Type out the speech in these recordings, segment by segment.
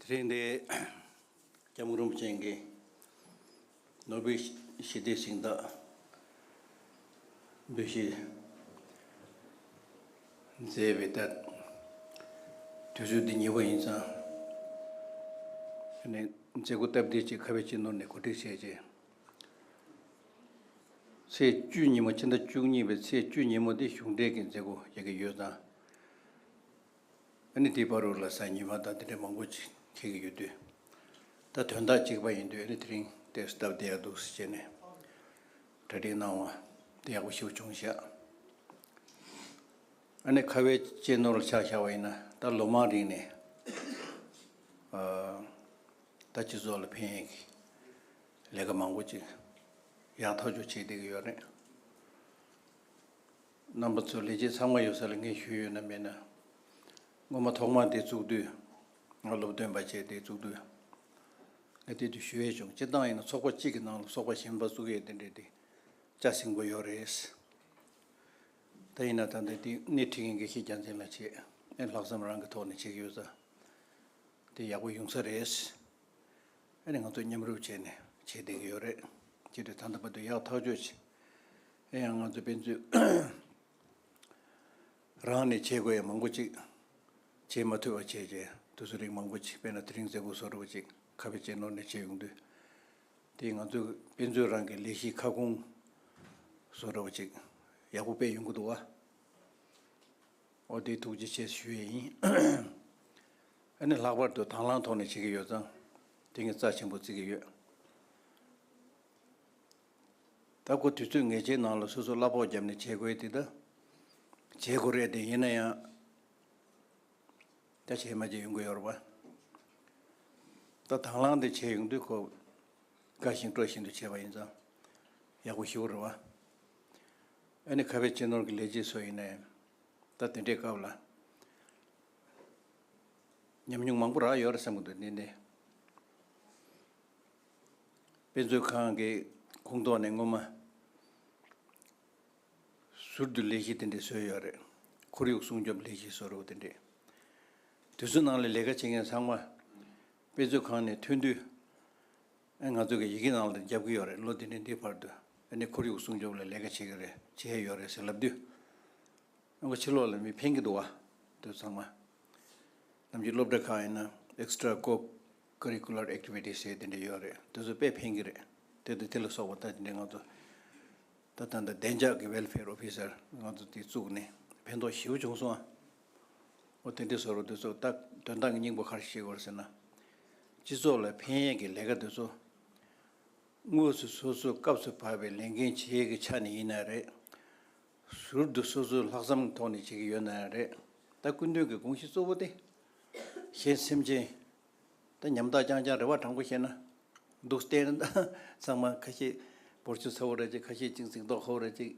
དེ་རིང་འདི་སྐྱབས་མགོན་རིན་པོ་ཆེ་འགའི་ནོར་བུའི་ཞི་བདེའི་ཞིང་བདག་འབོད་གཞི་མཛད་པའི་ལྟར་དུས་ཚོད་འདི་ཉེ་བ་ཡིན་ཙང་ནས་མཛད་སྒོ་སྟབས་བདེ་ཅིག་ཁ་བའི་སྤྱི་ནོར་ནས་གོ་སྒྲིག་བྱས་རྗེས། ཚེས་བཅུ་ཉིན་མོ་ཕྱི་ཟླ་བཅུ་གཉིས་པའི་ཚེས་བཅུ་ཉིན་མོ་འདི་གཞུང་འབྲེལ་གྱི་མཛད་སྒོ་རྒྱག་གི་ཡོད་ཙང། ཨ་ནི་དེའི་བར་རུ་ལ་སའི་ཉི་མ་དང་དེ་འདྲའི་མང་པོ་ཅིག་ཁེལ་གྱི་ཡོད་དུས། ད་དོན་དག་ཅིག་པ་ཡིན་དུས་ཨ་ནི་དེ་རིང་དེར་སྟབས་བདེ་ཡག་འདུག་ཟེར་བྱས་ནས་གྲ་སྒྲིག་གནང་བ་དེ་ཡག་པོ་ཞིག་བྱུང་བཞག་ཨ་ནི་ཁ་བའི་གཅེས་ནོར་ལ་ཆགས་བཞག་པ་ཡིན་ན་ད་ལོ་མང་རིང་ནས་ད་སྤྱི་ཚོགས་ལ་ཕན་ཡོད་ཀྱི་ལས་ཀ་མང་པོ་ཅིག་ཡག་ཐག་ཆོད་བྱེད་བསྡད་ཀྱི་ཡོད་རེད། རྣམ་པ་ཚོ་ལས་བྱེད་ཚང་མ་ཡོད་ས་ལ་ངས་ཞུས་ཡོད་ན་མེད་ན། སྔོན་མ་ཐོག་མར་དེ་བཙུགས་དུས། ང་སློབ་སྟོན་པ་བྱས་དེ་བཙུགས་དུས། ང་དེ་དུས་ཞུ་ཡས་བྱུང་སྤྱིར་བཏང་ཡིན་ན་ཚོགས་པ་གཅིག་གི་ནང་ལ་སོག་པ་གཞན་པ་བཙུགས་ཡས་དེ་འདྲས་དེ་ལྕགས་སིང་པོ་ཡོད་རེད། ད་ཡིན་ན་ད་ནི་དེ་སྣེ་ཁྲིད་མཁན་འགའ་ཤས་རྒྱ་མཚན་ལ་བྱས་ཨེ་ལྷག་བསམ་རང་གི་ཐོག་ནས་བྱེད་ཀྱི་ཡོད་ས་དེ་ཡག་པོ་ཡོང་ས་རེད། ཨ་ནི་ང་ཚོ་མཉམ་རུབ་བྱས་ནས་བྱེད་བསྡད་ཀྱི་ཡོད་རེད། ཅི་སྟེ་ད་ལྟ་བར་དུ་ཡག་ཐག་གཅོད་བྱེད། ཨེ་ཡང་ང་ཚོ་ཕན་ཚུན་རང་ནས་བྱེད་དགོས་ཡ་མང་པོ་ཅིག་བྱེད་མ་ཐུབ་པ་བྱས་བྱས་དུས་ཚོད་རིང་མང་པོ་ཅིག་སྤེལ་ན་དེ་རིང་མཛད་སྒོ་བཟོ་དགོས་པ་ཅིག་ཁ་བེ་ཅེ་ནོར་ནས་བྱེད་ཡོང་དུས། དེ་ང་ཚོས་ཕན་ཚུན་རང་གི་ལས་གཞིའི་ཁ་སྐོང་བཟོ་དགོས་པ་ཅིག་ཡག་པོ་སྤེལ་ཡོང་གི་འདུག་བ། འོ་དེ་ཐུགས་རྗེ་ཆེ་ཞུ་ཡས་ཡིན། ཨ་ནི་ལྷག་པར་དུ་དང་བླངས་ཐོག་ནས་བྱེད་ཀྱི་ཡོད་ཙང་དེང་གི་རྩ་ཆེན་པོ་བརྩི་གི་ཡོད། ལྟ་སྐོར་དུས་ཚོད་ངེས་ཅན་ནང་ལ་སོ་སོར་གླ་ཕོགས་བརྒྱབ་ནས་བྱེད་དགོས་དེ་དང། བྱེད་དགོས་རེད་དེ་ཡིན་ན་ཡང། ད་བྱེད་མ་བྱེད་ཡོང་གི་ཡོད་རེད་པ། ད་དང་བླངས་དེ་བྱེད་ཡོང་དུས་ཁོ། དགའ་བཞིན་སྤྲོ་བཞིན་དུ་བྱས་པ་ཡིན་ཙང། ཡག་པོ་ཞུ་རེད་བ། ཨ་ནི་ཁ་བའི་གཅེས་ནོར་གྱི་ལས་བྱེད་སོགས་ཡིན་ནའི། ད་དེ་འདྲའི་སྐབས་ལ། ཉམས་མྱོང་མང་པོ་རག་ཡོད་རེད་བསམ་གྱི་འདུག་དེ་ནི། དཔེ་མཛོད་ཁང་གི་ཁུངས་གཏོགས་ནས་སྔོན་མ་ཟུར་དུ་ལས་གཞི་དེ་འདྲས་བཟོས་ཡོད་རེད། ཁོར་ཡུག་སྲུང་སྐྱོབ་ལས་གཞི་བཟོ་རོགས་དེ་འདྲས། དུས་ཚོད་ནང་ལ་ལས་ཀ་བྱེད་མཁན་ཚང་མ་དཔེ་མཛོད་ཁང་ནས་ཐོན་དུས། ང་ཚོ་གི་ཡི་གེ་ནང་ལ་བརྒྱབ་གི་ཡོད་རེད་ལོ་འདི་ནས་འདིའི་བར་དུ་ཨ་ནི་ཁོར་ཡུག་སྲུང་སྐྱོབ་ལ་ལས་ཀ་བྱེད་གི་རེད་བྱས་ཡོད་རེད་ཟེར་ལབ་དུས། ཨ་ཁོ་ཕྱི་ལོག་ལ་མི་ཕན་གི་འདུག་བ། དུས་ཚང་མ། ནམ་གྱི་སློབ་གྲྭ་ཁག་ཡིན་ན Extra། Curricular Activities ཞེས་དེ་འདྲ་ཡོད་རེད་དེ་ཚོ་དཔེ་ཕན་གྱི་རེད་དེ་དང་དེ་ལ་སོགས་པ་དག་དེ་འདྲས་ང་ཚོ་ད་ལྟ་འདི་བདེ་འཇགས་ཀྱི Welfare Officer ང་ཚོ་དེ་བཙུགས་ནས་ཕན་ཐོགས་ཞེ་བོ་བྱུང་སོང་ཨ། འོ་དེ་འདྲས་བཟོ་རོགས་དེ་ཚོ་ལྟ་དོན་དག་གི་སྙིང་པོ་ག་རེ་བྱེད་དགོས་རེད་ཟེར་ན། སྤྱི་ཚོགས་ལ་ཕན་ཡས་ཀྱི་ལས་ཀ་དེ་ཚོ་དངོས་སུ་སོ་སོའི་སྐབས་སུ་བབས་པའི་ལས་འགན་བྱེད་ཡས་ཀྱི་ཆ་ནས་ཡིན་ན་རེད། ཟུར་དུ་སོ་སོའི་ལྷག་བསམ་གྱི་ཐོག་ནས་བྱེད་ཀྱི་ཡོད་ན་རེད། ད་སྐུ་མདུན་གྱི་དགོངས་གཞི་གཙོ་བོ་དེ། ཞེས་སེམས་ཅན་དང་ཉམ་ཐག་རྐྱང་རྐྱང་རེ་བ་དྲང་པོ་བཤད་ན། སྡུག་བསྟན་གཙང་མ་ཁ་ཤས་བོར་ཆུ་ཚ་བོ་རེ་གཅིག་ཁ་ཤས་ཅིག་ཚིག་མདོག་ཧོབ་རེ་གཅིག་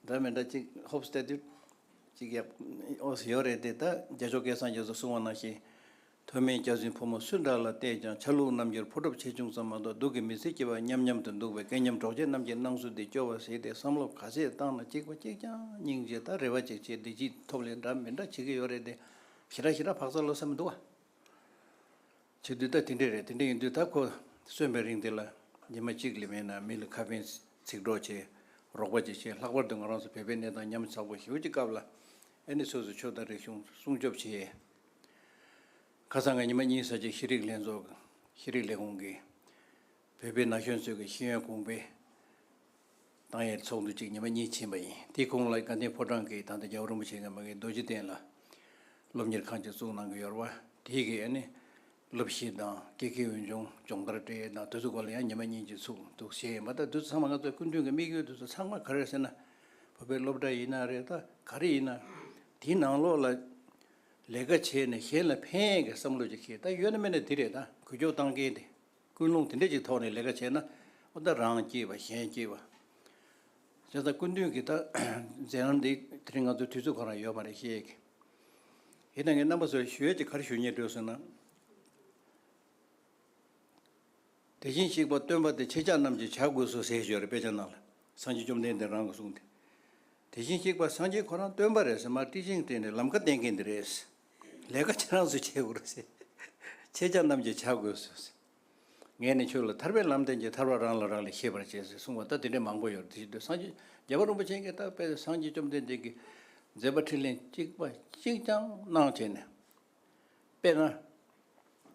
འདྲ་མི་འདྲ་གཅིག་ཧོབ་སྟེ་དུས་གཅིག་ཡག་ཨོ་སི་ཡོད་རེད་དེ་ད་རྒྱ་ཆོ་གའི་སངས་རྒྱས་སུ་གསུང་བ་ནང་བཞིན། ཐོན་མིའི་སྐྱག་རྫུན་ཕོ་མོ་སུ་འདྲ་ལ་བལྟས་ཀྱང་ཆ་ལུགས་རྣམ་འགྱུར་ཕོ་གྲུབ་ཆེ་ཆུང་ཙམ་མ་གཏོགས་སྡུག་གི་མི་ཚེ་སྐྱེལ་བ་སྙམ་སྙམ་དུ་འདུག་པའི་སྐལ་མཉམ་གྲོགས་མཆེད་རྣམས་ཀྱི་སྣང་ཚུལ་འདི་སྐྱོ་བ་ཞིག་སྟེ་བསམ་བློ་ག་ཚད་བཏང་ན་གཅིག་པ་གཅིག་རྐྱང་སྙིང་རྗེ་དང་རེ་བ་ཅིག་བྱེད་བདེ་སྐྱིད་ཐོབ་ལས་འདྲ་མི་འདྲ་བྱེད་ཀྱི་ཡོད་རེད་དེ། ཞེ་དྲག་ཞེ་དྲག་བག་ཚ་བློ་ས་མི་འདུག། བྱས་དུས་ད་དེ་འདྲས་རེད་དེ་འདྲས་ཡིན་དུས་ད་ཁོ་གསོན་པའི་རིང་དེ་ལ་ཉི་མ་གཅིག་ལས་མེད་ན་མི་ལ་ཁ་ཕན་ཚིག་གྲོགས་བྱེད་རོགས་པ་བྱེད་ཞེས་ལྷག་པར་དུ་ང་རང་ཚོ་བོད་པའི་གནས་སྟངས་ཉམས་ཚ་པོ་ཞེ་བོ་ཀྱི་སྐབས་ལ་ཨེ་ནི་སོ་སོའི་ཕྱོགས་དང་རིག་གཞུང་སྲུང་སྐྱོབ་བྱེད། ཁ་སང་གི་ཉི་མ་གཉིས་ས་ཆའི་ཤེས་རིག་ལྷན་ཚོགས་ཤེས་རིག་ལས་ཁུངས་ཀྱིས་བོད་པའི་ན་གཞོན་ཚོའི་གི་ཤེས་ཡོན་གོང་འཕེལ་དང་ཡང་ཚོགས་འདུ་གཅིག་ཉི་མ་གཉིས་ཕྱིན་པ་ཡིན། དེའི་གོང་ལ་དགའ་ལྡན་ཕོ་བྲང་གི་དང་ཐོག་རྒྱལ་བ་རིན་པོ་ཆེ་མཁན་པ་འགའི་རྡོ་རྗེ་གདན་ལ། སློབ་གཉེར་ཁང་ཅིག་བཙུགས་གནང་གི་ཡོར་བ། དེའི་གི་ཡ་ནི། སློབ་བཞི་དང་སྐྱེ་ཁའི་འོས་སྦྱོང་སྦྱོང་བརྡར་འབྲེལ་ཡོད་དང་དུས་ཚོད་སྐོར་ལ་ཡང་ཉི་མ་གཉིས་གཅིག་ཚུགས་འདུག་བྱས་ཡོད་མ་ད་དུས་ཚང་མ་ང་ཚོ་སྐུ་མདུན་གི་དམིགས་ཡུལ་དུས་ཚོད་ཚང་མ་ག་རེ་ཟེར་ན། བོད་པའི་སློབ་གྲྭ་ཡིན་ན་རེ་ད་ག་རེ་ཡིན་ན། དེའི་ནང་ལོགས་ལ། ལས་ཀ་བྱས་ནས་གཞན་ལ་ཕན་ཡོན་གི་བསམ་བློ་ཅིག་ཤེས་ད་ཡོད་ན་མེད་ན་དེ་རེད་ད་གུས་ཀྱོག་བཏང་མཁན་དེ། ཀུན་སློང་དེ་འདྲས་ཀྱི་ཐོག་ནས་ལས་ཀ་བྱས་ན། ཨོ་ད་རང་སྐྱིད་པ་གཞན་སྐྱིད་པ། བྱས་ཙང་སྐུ་མདུན་གྱི་མཛད་རྣམ་འདི་དེ་རིང་ང་ཚོའི་དུས་ཚོད་ཁོ་ན་ཡོད་མ་རེད་ཤེས་ཀི། ཡིན་ན་ངའི་རྣམ་པ་ཚོར་ཞུ་ཡས་ཀྱི་གར་ཞུ་ཉེར་སྤྲོད་སོང་ན། དེ་བཞིན་གཤེགས་པ་སྟོན་པ་དེ་ཁྱེད་ཅག་རྣམས་ཀྱིས་བྱ་དགོས་སོ་ཟེར་ཞོར་དཔེ་ཆ་གནང་ལ། སངས་རྒྱས་བཅོམ་ལྡན་འདས་རང་གིས་གསུངས་ཏེ། དེ་བཞིན་གཤེགས་པ་སངས་རྒྱས་ཁོ་རང་སྟོན་པ་རེད་ཟེར་མར་ཏིས་ཅིང་ཏེ་ནས་ལམ་ཁ་བསྟན་མཁན་དེ་རེད། ལས་ཀ་ཁྱེད་རང་ཚོས་བྱེད་དགོས་རེད། ཁྱེད་ཅག་རྣམས་ཀྱིས་བྱ་དགོས་ཟེར། ངས་ནི་ཁྱོད་ལ་ཐར་པའི་ལམ་བསྟན་གྱི་ཐར་བ་རང་ལ་རང་ལས་ཤེས་པར་བྱེད་ཟེར་གསུངས་པ་ལྟར་དེ་འདྲའི་མང་པོ་ཡོད་དེ་བཞིན་དུ་སངས་རྒྱས་རྒྱལ་བ་རིན་པོ་ཆེ་མཁན་བཏགས་པའི་སངས་རྒྱས་བཅོམ་ལྡན་འདས་ཀྱི་མཛད་པ་ཁྲིད་ལན་གཅིག་པ་གཅིག་ཀྱང་གནང་བྱས་ནས་དཔེར་ན།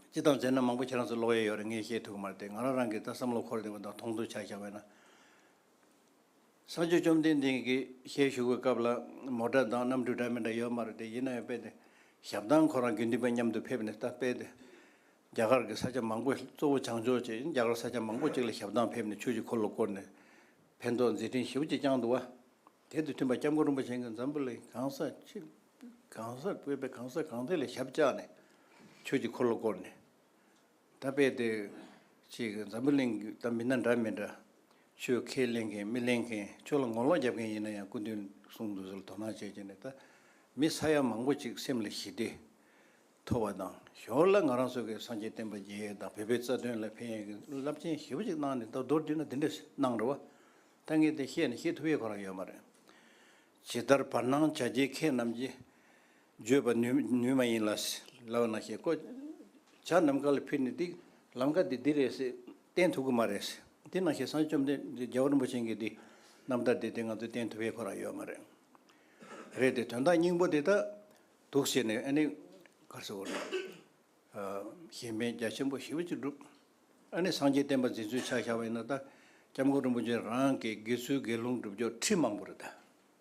སྤྱི་དང་མཛད་རྣམ་མང་པོ་ཁྱེད་རང་ཚོས་ཀློག་ཡས་ཡོད་རེད་ངས་བཤད་ཐུབ་ཀྱི་མ་རེད་དེ་ང་རང་རང་གིས་ད་བསམ་བློ་འཁོར་བསྡད་པ་དང་མཐོང་ཚུལ་ཆ་ཞག་བས་ན། བསང་ཆུ་བཅོམ་ལྡན་འདས་ཀྱི་ཞལ་བཞུགས་པའི་སྐབས་ལ་མོ་དགྲ་དང་གནམ་གྲུ་འདྲ་མི་འདྲ་ཡོད་མ་རེད་དེ་ཡིན་ན་ཡང་དཔེ་དེ་ཞབས་དང་ཁོ་རང་དགེ་འདུན་པ་མཉམ་དུ་ཕེབས་ནས་ད་དཔེ་དེ་རྒྱ་གར་གྱི་ས་ཆ་མང་པོ་གཙོ་བོ་བྱང་ཕྱོགས་ཀྱི་རྒྱ་གར་ས་ཆ་མང་པོ་གཅིག་ལ་ཞབས་དང་ཕེབས་ནས་ཆོས་ཀྱི་འཁོར་ལོ་བསྐོར་ནས་ཕན་ཐོགས་མཛད་འཕྲིན་ཞིབ་ཅིག་བསྐྱངས་འདུག་བ། དེ་དང་མཐུན་པར་སྐྱབས་མགོན་རིན་པོ་ཆེ་གིས་འཛམ་བུ་གླིང་གང་ས་ཅི་གང་སར་སྤེལ་པའི་གང་ས་གང་དེ་ལ་ཞབས་བཅགས་ནས་ཆོས་ཀྱི་འཁོར་ལོ་བསྐོར་ནས། ད་དཔེ་དེ་ཅིག་འཛམ་བུ་གླིང་གི་སྟབས་མི་སྣ་འདྲ་མི་འདྲ། ཆོས་ཁས་ལེན་མཁན་མི་ལེན་མཁན་ཆོས་ལ་ངོ་ལོག་རྒྱབ་མཁན་ཡིན་ན་ཡང་སྐུ་མདུན་གསུང་འདུག་ཟེར་དོ་སྣང་བྱས་བྱས་ནས་ད་མི་ས་ཡ་མང་པོ་ཅིག་སེམས་ལ་ཞི་བདེ་ཐོབ་པ་དང་ཞོར་ལ་ང་རང་སོགས་ཀྱི་སངས་རྒྱས་བསྟན་པ་རྒྱས་ཡོལ་དང་བོད་པའི་རྩ་དོན་ལ་ཕན་ཡོན་གྱི་རླབས་ཆེན་ཞི་བ་ཅིག་གནང་ནས་ད་མདོར་བསྡུས་ན་འདི་འདྲ་གནང་འགྲོ་བ་ད་ངས་དེ་བཤད་ནས་ཤེས་ཐུབ་ཡས་གང་རང་ཡོད་མ་རེད། ཇི་ལྟར་བར་སྣང་བྱ་རྒྱལ་ཁྱེད་རྣམས་ཀྱིས། བརྗོད་པར་ནུས་མ་ཡིན། ལག་ན་ཞེས་བཀོད། བྱ་ནམ་མཁའ་ལ་ཕེབས་ནས་འདི། ལམ་ཀ་འདི་འདི་རེད། བསྟན་ཐུབ་ཀྱི་མ་རེད། འདི་ནང་བཞིན་སངས་བཅོམ་ལྡན་འདས་རྒྱལ་བ་རིན་པོ་ཆེན་གྱིས་འདི། རྣམ་ཐར་འདི་དེ་ང་ཚོས་བསྟན་ཐུབ་ཡས་ཁོ་རང་ཡོད་མ་རེད། རེད་དེ་དོན་དག་སྙིང་པོ་དེ་དག་འདུག་ཟེར་ནས་ཨ་ནི། གར་སོ་བོར། གཞན་ཕན་རྒྱ་ཆེན་པོ་ཞི་བ་གཅིག་འགྲུབ། ཨ་ནི་སངས་རྒྱས་བསྟན་པ་འཛིན་ཚུལ་ཕྱག་བཞག་པ་ཡིན་ན་ད། སྐྱབས་མགོན་རིན་པོ་ཆེ་རང་གི་དགེ་ཚུལ་དགེ་སློང་སྒྲུབ་ཕྱོགས་ཁྲིད་མང་པོ་རེད་ད།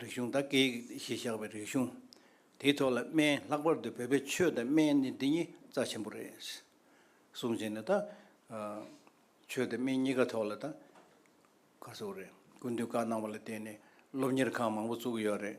རིག་གཞུང་དང་སྐད་ཡིག་ཞེས་བཞག་པའི་རིག་གཞུང་དེའི་ཐོག་ལ་སྨན་ལྷག་པར་དུ་བོད་པའི་ཆོས་དང་སྨན་ནི་འདི་གཉིས་རྩ་ཆེན་པོ་རེད། གསུམ་བཞི་ནི་དང། ཆོས་དང་སྨན་གཉིས་ཀ་ཐོག་ལ་དང། བཀའ་ཟུར་རེད་སྐུ་མདུན་བཀའ་གནང་བ་ལ་བརྟེན་ནས་སློབ་གཉེར་ཁང་མང་པོ་བཙུགས་ཡོད་རེད།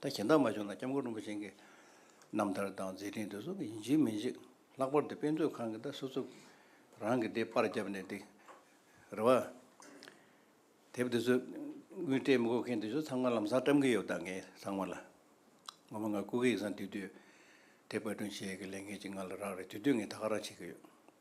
ད་གཞན་དག་མ་བྱུང་ན་སྐྱབས་མགོན་རིན་པོ་ཆེན་གྱི་རྣམ་ཐར་དང་མཛད་འཕྲིན་དེ་ཚོ་ཡིན་གཅིག་མིན་གཅིག་ལྷག་པར་དུ་དཔེ་མཛོད་ཁང་གི་ད་སོ་སོ་རང་གི་དེབ་དཔར་བརྒྱབ་ནས་དེ་རེ་བ། དེབ་དེ་ཚོ་དབུས་སྤྲད་མི་དགོས་མཁན་དེ་ཚོ་ཚང་མ་ལམ་སང་བཀྲམ་གྱི་ཡོད་ད་ངས་ཚང་མ་ལ། ངོ་མ་ང་སྐུ་གེ་ཡིག་ཚང་དེ་དུས་དེབ་དཔར་སྐྲུན་བྱེད་ཀྱི་ལས་འགན་ཅིག་ང་ལ་རག་རེད་དེ་དུས་ངས་ད་ག་རང་བྱེད་ཀྱི་ཡོད།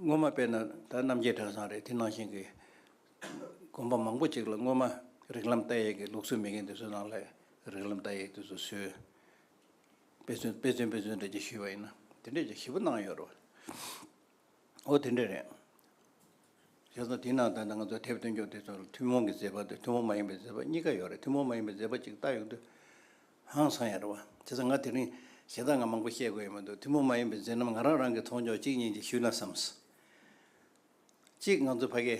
སྔོན་མ་དཔེར་ན་ད་རྣམ་རྒྱལ་གྲྭ་ཚང་རེད་དེ་ནང་བཞིན་གྱི་དགོན་པ་མང་པོ་ཅིག་ལ་སྔོན་མ་རིགས་ལམ་བལྟ་ཡས་ཀྱི་ལུགས་སྲོལ་མེད་མཁན་དེ་ཚོའི་ནང་ལ་རིགས་ལམ་བལྟ་ཡས་དེ་ཚོ་བཟོས། དཔེ་མཚོན་དཔེ་མཚོན་དཔེ་མཚོན་འགྲེལ་བརྗོད་ཞུས་པ་ཡིན་ན་དེ་འདྲས་ཀྱི་བཞི་པོ་གནང་ཡོད་རེད། འོ་དེ་འདྲས་རེད། བྱས་ཙང་དེའི་ནང་ད་ནང་ང་ཚོ་དེབ་སྟོན་རྒྱུ་དེ་ཚོ་ཐུན་མོང་གི་མཛད་པ་དང་ཐུན་མོང་མ་ཡིན་པའི་མཛད་པ་གཉིས་ཀ་ཡོད་རེད་ཐུན་མོང་མ་ཡིན་པའི་མཛད་པ་ཅིག་བལྟ་ཡོང་དུས། ཧང་སང་ཡ་རེད་བ། དེ་ཚོ་ང་དེ་རིང་ཞེ་སྡང་ང་མང་པོ་བཤད་དགོས་ཡོད་མི་འདུག་ཐུན་མོང་མ་ཡིན་པའི་མཛད་རྣམ་ང་རང་རང་གི་མཐོང་ཕྱོགས་གཅིག་གཉིས་ཅིག་ཞུས་ན་བསམས། གཅིག་ང་ཚོ་ཕ་གི།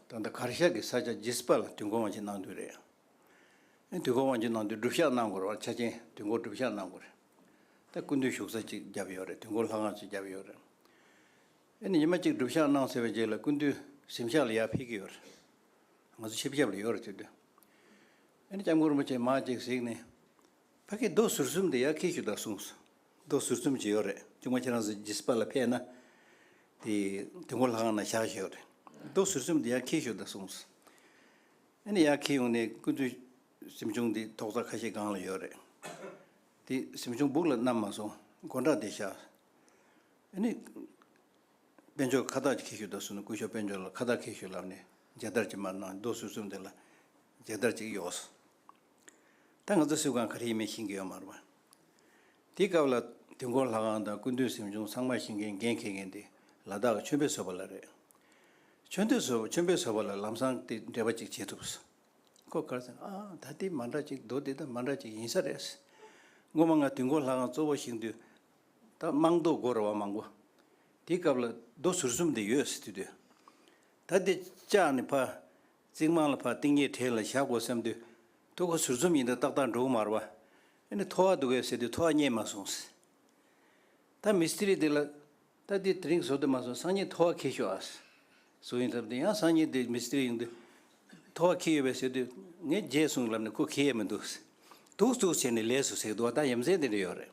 ད་ལྟ་གར་ཤག་གི་ས་ཆ་ལྗིད་སྤར་ལ་དུས་འགོར་དབང་ཆེན་གནང་དུས་རེད། དུས་འགོར་དབང་ཆེན་གནང་དུས་སྒྲུབ་ཞག་གནང་དགོས་རེད་བ་ཆ་ཆེན་དུས་འགོར་སྒྲུབ་ཞག་གནང་དགོས་རེད། ད་སྐུ་མདུན་བཞུགས་ས་གཅིག་བརྒྱབ་ཡོད་རེད་དུས་འགོར་ལྷ་ཁང་གཅིག་བརྒྱབ་ཡོད་རེད། ཨེ་ནི་ཉི་མ་གཅིག་སྒྲུབ་ཞག་གནང་ཟེར་བའི་རྗེས་ལ་སྐུ་མདུན་གཟིམ་ཤག་ལ་ཡར་ཕེབས་ཀྱི་ཡོད་རེད། ང་ཚོ་ཆིབས་རྒྱབ་ལ་ཡོད་རེད་ཅེས་བསྟོད། ཨ་ནེ་སྐྱབས་མགོན་རིན་པོ་ཆེས་མར་ཅིག་གཟིགས་ནས། ཕ་གིའི་རྡོ་ཟུར་གསུམ་དེ་ཡར་འཁེལ་ཞིག་དང་གསུངས་སོ། རྡོ་ཟུར་གསུམ་ཅིག་ཡོད་རེད་ཅུང་མ་ཕྱི་རང་བཟོས་ཇི་སྤར་ལ་ཕེབས་ན། དེ་དུས་མགོ་ལྷ་ཁང་ན་བཞག་བཞིན་ཡོད་རེད། རྡོ་ཟུར་གསུམ་དེ་ཡར་འཁེལ་ཞིག་དང་གསུངས་སོ། ཨ་ནེ་ཡར་འཁེལ་ཡོང་ནས་སྐུ་མདུན་གཟིམ་ཆུང་དེ་ཐོག་རྩ་ཁ་ཤས་སྒང་ལ་ཡོད་རེད། དེ་གཟིམ་ཆུང་སྦུག་ལ་བསྣམས་མ་སོང་མགོ་འདྲ་དེ་བཞག། ཨ་ནེ། དཔལ་འབྱོར་ཁ་བཏགས་ཀྱི་ཁེ་ཤུལ་དུ་སོང་ནས་སྐུ་ཞབས་དཔལ་འབྱོར་ལ་ཁ་བཏགས་ཁེ་ཤུལ་ལབ་ནས་མཇལ་དར་གྱི་མར་ནང་རྡོ་སོལ་བཙུགས་འདུག་ལ་མཇལ་དར་གཅིག་གཡོགས་སོང། ད་ང་ཚོ་སིལ་ཁང་ག་རེ་ཡིན་མིན་ཤེས་ཀྱི་ཡོད་མ་རེད། དེའི་སྐབས་ལ་དུས་འཁོར་ལྷ་ཁང་དང་སྐུ་མདུན་གཟིམ་ཆུང་ཚང་མ་ཤིང་མཁན་རྒན་འཁེལ་མཁན་དེ་ལ་དྭགས་ཀྱི་མཆོད་འབུལ་བཟོ་པ་ལ་རེད། མཆོད་འདུལ་བཟོ་མཆོད་འབུལ་བཟོ་པ་ལ་ལམ་སང་དེ་འདྲེས་པ་ཅིག་བྱེད་ཐུབ། ཁོ་དགར་ཟེར་ཨ་ཨ་ད་དེ་མ་འདྲ་ཅིག་རྡོ་དེ་ད་མ་འདྲ་ཅིག་ཡིན་ས་རེད། སྔོན་མ་ང་དུས་འཁོར་ལྷ་ཁང་གཙོ་བོ་ཤིང་འདུལ། ད་དམངས་རྡོ་སྒོ་ར་བ་མང་པོ་དེའི་སྐབས་ལ་རྡོ་ཟུར་གསུམ་དེ་ཡོད་སྲིད་དུས། ད་དེ་བཅག་ནས་ཕ། རྩིག་རྨང་ལ་ཕ་རྟིང་གཡས་དྲེག་ལ་བཞག་དགོས་བསམ་དུས། ཐུ་གུ་ཟུར་གསུམ་ཡིན་དུས་ཏག་ཏག་འགྲོ་གི་མ་ར་བ། ཨེ་ནི་ཐོ་བ་འདུག་གས་ཟེར་དུས་ཐོ་བ་རྙེད་མ་སོང། ད་མི་སི་རི་དེ་ལ། ད་དེ་དེ་རིང་བཟོ་དུ་མ་སོང་སང་ཉིན་ཐོ་བ་ཁེ་ཤོག་ཨ། བཟོ་ཡིན་ལབ་དུས་ཡང་སང་ཉིན་དེ་མི་སི་རི་ཡོང་དུས། ཐོ་བ་ཁེ་ཡོད་པས་ཟེར་དུས། ངས་རྗེས་སོང་ལབ་ནས་ཁོ་ཁེ་ཡས་མི་འདུག། དུག་བཙུགས་བྱས་ནས་ལས་སུ་ཟེགས་འདུག་བ་ད་ཡམ་ཟེགས་དེ་འདྲ་ཡོད་རེད།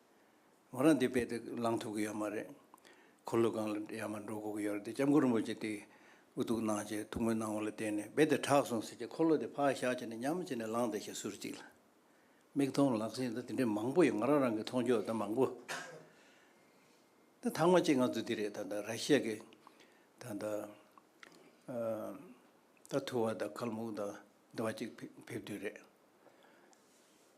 ང་རང་འདི་པད་དུ་ལངས་ཐུབ་ཀྱི་ཡོད་མ་རེད། འཁོར་ལོ་སྒང་ལ་ཡར་མར་འགྲོ་དགོས་ཀྱི་ཡོད་རེད་དེ་སྐྱབས་མགོན་རིན་པོ་ཆེ་དེ་འུ་ཐུག་གནང་ཅེས་ཐུགས་སྨོན་གནང་བ་ལ་བརྟེན་ནས་རྦད་དེ་དྲག་སོང་ཟེར་གྱིས་འཁོར་ལོ་དེ་ཕར་བཞག་བྱས་ནས་ཉམས་བྱས་ནས་ལངས་ཏེ་ཞེས་ཟུར་གཅིག་ལ་མིག་མཐོང་ལག་ཟིན་དང་དེ་འདྲའི་མང་པོ་ཡོད་ང་རང་རང་གིས་མཐོང་ཆོས་དང་མང་པོ་དང་ཐང་མ་གཅིག་ང་ཚོ་འདི་རེད་ད་ད་ར་ཤི་ཡ་གི་ད་ད་ད་ཐུ་བ་དང་ཁལ་མུག་དང་འདི་བ་གཅིག་ཕེབས་དུས་རེད།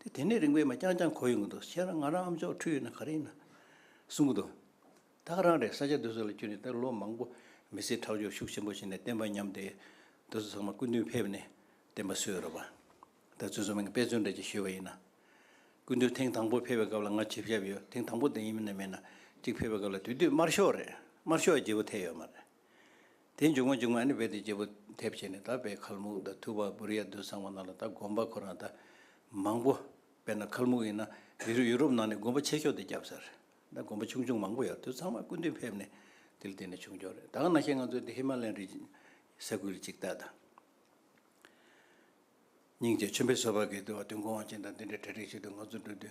དེ་དེ་ནས་རིང་བས་མ་བསྐྱངས་ཀྱང་གོ་ཡོང་གི་འདུག་ཁྱེད་རང་ང་རང་ཨམ་ཅོག་འཁྲུལ་ཡོད་ན་ག་རེ་ཡིན། གསུང་གི་འདུག། ཐག་རང་རེད་ས་ཆ་འདི་ཚོ་ལ་བསྐྱུར་ནས་དེར་ལོ་མང་པོ་མི་ཚེའི་ཁྲག་སྦྱོར་ཤུགས་ཆེན་པོ་བྱས་ནས་བསྟན་པ་ཉམས་ཏེ། འདི་ཚོ་ཚང་མ་སྐུ་མདུན་ཕེབས་ནས་བསྟན་པ་སྲོལ་རོལ་བ། དེ་ཚོའི་གཟུ་མིང་དཔེ་མཚོན་འགྲེལ་གྱིས་ཞུས་པ་ཡིན་ན། སྐུ་མདུན་ཐེངས་དང་པོ་ཕེབས་པའི་སྐབས་ལ་ང་ཆིབས་ཞབས་ཡོད་ཐེངས་དང་པོ་དེ་ཡིན་ནམ་མིན་ན་གཅིག་ཕེབས་པའི་སྐབས་ལ་དུས་དུས་དམར་ཤོག་རེད་དམར་ཤོག་བརྗེ་པོ་ཐེབས་ཡོད་མ་རེད། དེ་མཇུག་མ་མཇུག་མ་ནི་རྦད་དེ་རྒྱལ་པོ་དེ་བྱས་ནས་ད་བས་ཁལ་མུག་ད་ཐུ་བ་བུ་རི་ཡ་རྡུལ་ཚང་བ་ན་ལ་ད་དགོན་པ་ཁོ་རང་ད་མང་པོ་བས་ན་ཁལ་མུག་ཡིན་ན་ཡུ་རི་ཡུ་རོབ་ནང་ནས་དགོན་པ་ཆེ་ཤོས་དེ་རྒྱབ་ཟེར་ད་དགོན་པ་ཆུང་ཆུང་མང་པོ་ཡོད་རྡུལ་ཚང་བ་སྐུ་མདུན་ཕེབས་ནས་དེ་ལ་བརྟེན་ནས་བྱུང་ཆོག་རེད་ད་ག་ན་ཤེས་ང་ཚོས་དེ་ཧི་མ་ལན་རི་ས་ཁུལ་གཅིག་ད་ད། སྙིང་རྗེ་ཆོས་འཕེལ་སོ་བ་གིས་དུ་བ་དུས་འགོང་བ་ཅན་དང་དེ་འདྲའི་གྲ་སྒྲིག་བྱས་དུས་ང་ཚོ་འགྲོ་དུས།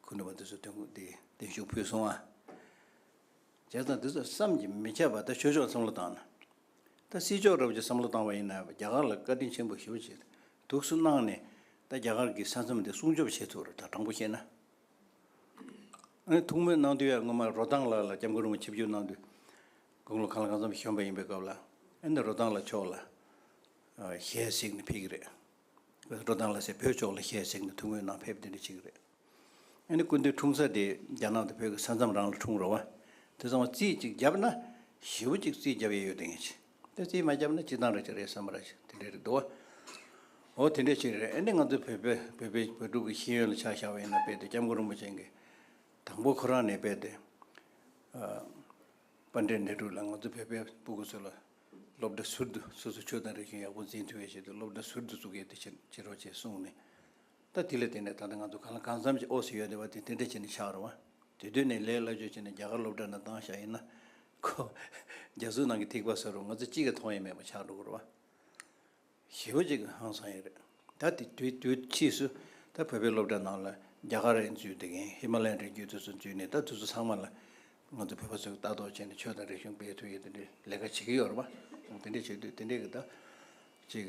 ཁུ་ནུ་བ་འདི་ཚོ་དོན་དགུ་འདི་བདེན་ཞུགས་ཕུལ་སོང་ཨ། བྱས་ཙང་འདི་ཚོ་བསམ་གྱིས་མི་ཁྱབ་པ་ད་ཆོས་ཕྱོགས་བསམ་བློ་བཏང་ན། ད་སྲིད་ཕྱོགས་རབ་ཀྱི་བསམ་བློ་བཏང་བ་ཡིན་ན་རྒྱ་གར་ལ་བཀའ་དྲིན་ཆེན་པོ་ཞུ་ཅེས་དུགས་སུ་གནང་ནས་ད་རྒྱ་གར་གྱི་ས་མཚམས་འདི་སྲུང་སྐྱོབ་བྱེད་ཐུབ་རེད་ད་དྲང་པོ་བཤད་ན། ཐུགས་སྨོན་གནང་དུས་ཡར་སྔོན་མ་རོ་ཐང་ལགས་ལ་སྐྱབས་མགོན་རིན་པོ་ཆེ་བསྒྱུར་གནང་དུས། དགུང་ལོ་གང་ལ་གང་འཚམ་ཞོན་པ་ཡིན་པའི་སྐབས་ལ། ཨ་ནི་རོ་ཐང་ལ་ཕྱོགས་ལ། ཞལ་གཟིགས་ནས་ཕེབས་ཀྱི་རེད། འགྲོ་སྟངས་ལ་ཟེར་བོད་ཕྱོགས་ལ་ཤས་ཟིག་ནི་ཐུགས་ངོས་ནང་ཕེབས་འདི་འདྲ་ཅིག་རེད། ཨ་ནི་སྐུ་མདུན་འཁྲུངས་ས་དེ་རྒྱ་ནག་དང་བོད་ཀྱི་ས་མཚམས་རང་ལ་འཁྲུངས་རོགས་བ། དེ་ཚང་བ་རྩིས་ཅིག་བརྒྱབ་ན། བཞི་བོ་ཅིག་རྩིས་བརྒྱབ་ཡས་ཡོད་དེ་ངས་བྱས། དེ་རྩིས་མ་བརྒྱབ་ན་སྤྱི་བཏང་རེད་ཅིག་རེད་བསམ་ར་ཅིག་དེ་འདྲ་རེད་འདུག་བ། འོ་དེ་འདྲ་ཅིག་རེད་ཨ་ནི་ང་ཚོ་བོད་པའི་བོད་པའི་བོད་ཕྲུག་གི་ཤེས་ཡོན་ལ་ཆ་བཞག་པ་ཡིན་ན་དཔེ་དེ་སྐྱབས་མགོན་རིན་པོ་ཆེན་གྱི་དང་པོ་ཁོ་རང་ནས་དཔེ་དེ། ཨ། དཔའ་འདྲེ་འདྲེ་དྲུག་ལ་ང་ཚོ་བོད་པའི་སྤུ་གུ་ཚོ་ལ། སློབ་གྲྭ་ཟུར་དུ་སོ་སོ་ཆོས་དང་རིག་གཞུང་ཡག་པོ་འཛིན་ཐུབ་པའི་ཆེད་དུ་སློབ་གྲྭ་ཟུར་དུ་བཙུགས་ཡོད་དེ་ཕྱིར་འབྱེད་རོགས་ཅེས་གསུངས་ནས། ད་དེ་ལ་བརྟེན་ནས་ད་ལྟ་ང་ཚོ་གང་ལ་གང་འཚམ་ཞིག་ཨོ་སི་ཡོད་དེ་བ་དེ་དེ་འདྲ་བྱས་ནས་ཆགས་རུང་བ། དེ་དོན་ནས་ལས་སླ་བཅོས་བྱས་ནས་རྒྱ་གར་སློབ་གྲྭ་ནང་བཏང་བཞག་ཡིན་ན། ཁོ། རྒྱ་བཟོའི་ནང་གི་ཐིགས་པ་ཟེར་རུང་ང་ཚོ་གཅིག་གིས་མཐོང་ཡས་མེད་པ་ཆགས་འགྲོ་གི་རུང་བ། ཞི་བ་གཅིག་གི་ཧང་སང་ཡིན་རེད། ད་དེ་དུས་དུས་ཕྱིས་སུ་ད་བོད་པའི་སློབ་གྲྭ་ནང་ལ་རྒྱ་གར་རན་ཚུལ་དེ་གིན་ཧི་མ་ལ་ཡན་རན་རྒྱུད་དེ་ཚོ་འཛུལ་ནས་ད་དེ་ཚོ་ཚང་མ་ལ་ང་ཚོ་བོད་པ་ཚོས་ལྟ་རྟོག་བྱས་ནས་ཆོས་དང་རིག་གཞུང་སྤེལ་ཐུབ་ཡོད་དེ་འདྲའི་ལས་ཀ་བྱེད་ཀྱི་ཡོད་རེད་པ། དེ་འདྲས་བྱེད་དུས་དེ་འདྲས་ཀྱི་ད་ཅིག་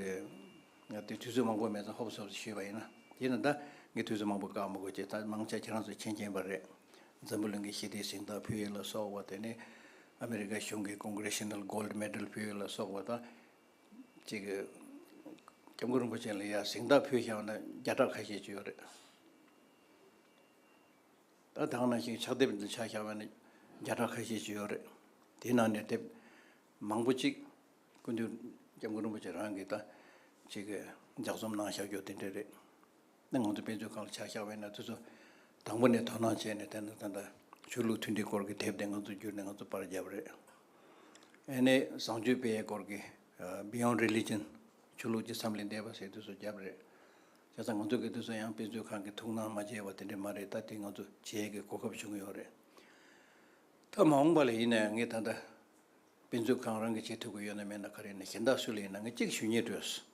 ང་དེ་དུས་ཚོད་མང་པོ་མེད་ཚ་ཧོབ་སོབ་ཤི་བ་ཡིན་ན་དེས་ན་ད་ངས་དུས་ཚོད་མང་པོ་བཀག་མི་དགོས་ཀྱི་ད་མང་ཆ་ཁྱེད་རང་ཚོས་མཁྱེན་མཁྱེན་པ་རེད། འཛམ་བུ་གླིང་གི་ཞི་བདེའི་གཟེངས་རྟགས་ཕུལ་ཡོད་ལ་སོགས་བ་དེ་ནས་ཨ་མི་རི་ཀ་གཞུང་གིས Congressional Gold Medal ཕུལ་ཡོད་ལ་སོགས་བ་ད། ཅིག། སྐྱབས་མགོན་རིན་པོ་ཆེ་ལ་ཡར་གཟིགས་མདའ་ཕུལ་བཞག་ན་བརྒྱ་ཕྲག་ཁ་ཤས་བྱུང་ཡོད་རེད། ད་ད་ནང་བཞིན་ཕྱག་དེབ་འདི་ཆགས་བཞག་པ་ནི་བརྒྱ་ཕྲག་ཁ་ཤས་བྱུང་ཡོད་རེད། དེའི་ནང་ནས་དེབ་མང་པོ་ཅིག་ཀུན་ཏུ་སྐྱབས་མགོན་རིན་པོ་ཆེ་རང་གིས་ད་ཅིག་ལྗགས་རྩོམ་གནང་བཞག་རྒྱུ་དེ་འདྲ་རེད། ནས་ང་ཚོ་དཔེ་མཛོད་ཁང་ལ་ཕྱག་བཞག་བས་ན་དེ་ཚོ་དང་པོ་ནས་དོ་སྣང་བྱས་ནས་དེ་ད་ལྟ་ཆོས་ལུགས་མཐུན་སྒྲིལ་སྐོར་གྱི་དེབ་དེ་ང་ཚོ་བསྒྱུར་ནས་ང་ཚོ་པར་བརྒྱབ་རེད། ཨེ་ནས་བཟང་སྤྱོད་དཔེ་ཡས་སྐོར་གྱི Beyond Religion ཆོས་ལུགས་ཀྱི་མཚམས་ལས་འདས་པ་ཞེས་དེ་ཚོ་བརྒྱབ་རེད། བྱས་ཙང་ང་ཚོ་གིས་དེ་ཚོ་ཡང་དཔེ་མཛོད་ཁང་གིས་ཐུགས་སྣང་མ་བྱས་པ་དེ་འདྲས་མ་རེད་ད་དེ་ང་ཚོ་བྱེད་ཀྱི་གོ་སྐབས་བྱུང་ཡོད་རེད། ད་མ་འོངས་པ་ལ་ཡིན་ནའི་ངས་ད་ལྟ་དཔེ་མཛོད་ཁང་རང་གིས་བྱེད་ཐུབ་ཀྱི་ཡོད་ན་མེད་ན་ག་རེ་ཡིན་ན་གཞན་དག་སུ་ལ་ཡིན་ན་ངས་གཅིག་ཞུ་ཉེས་སྤྲོས་སོ།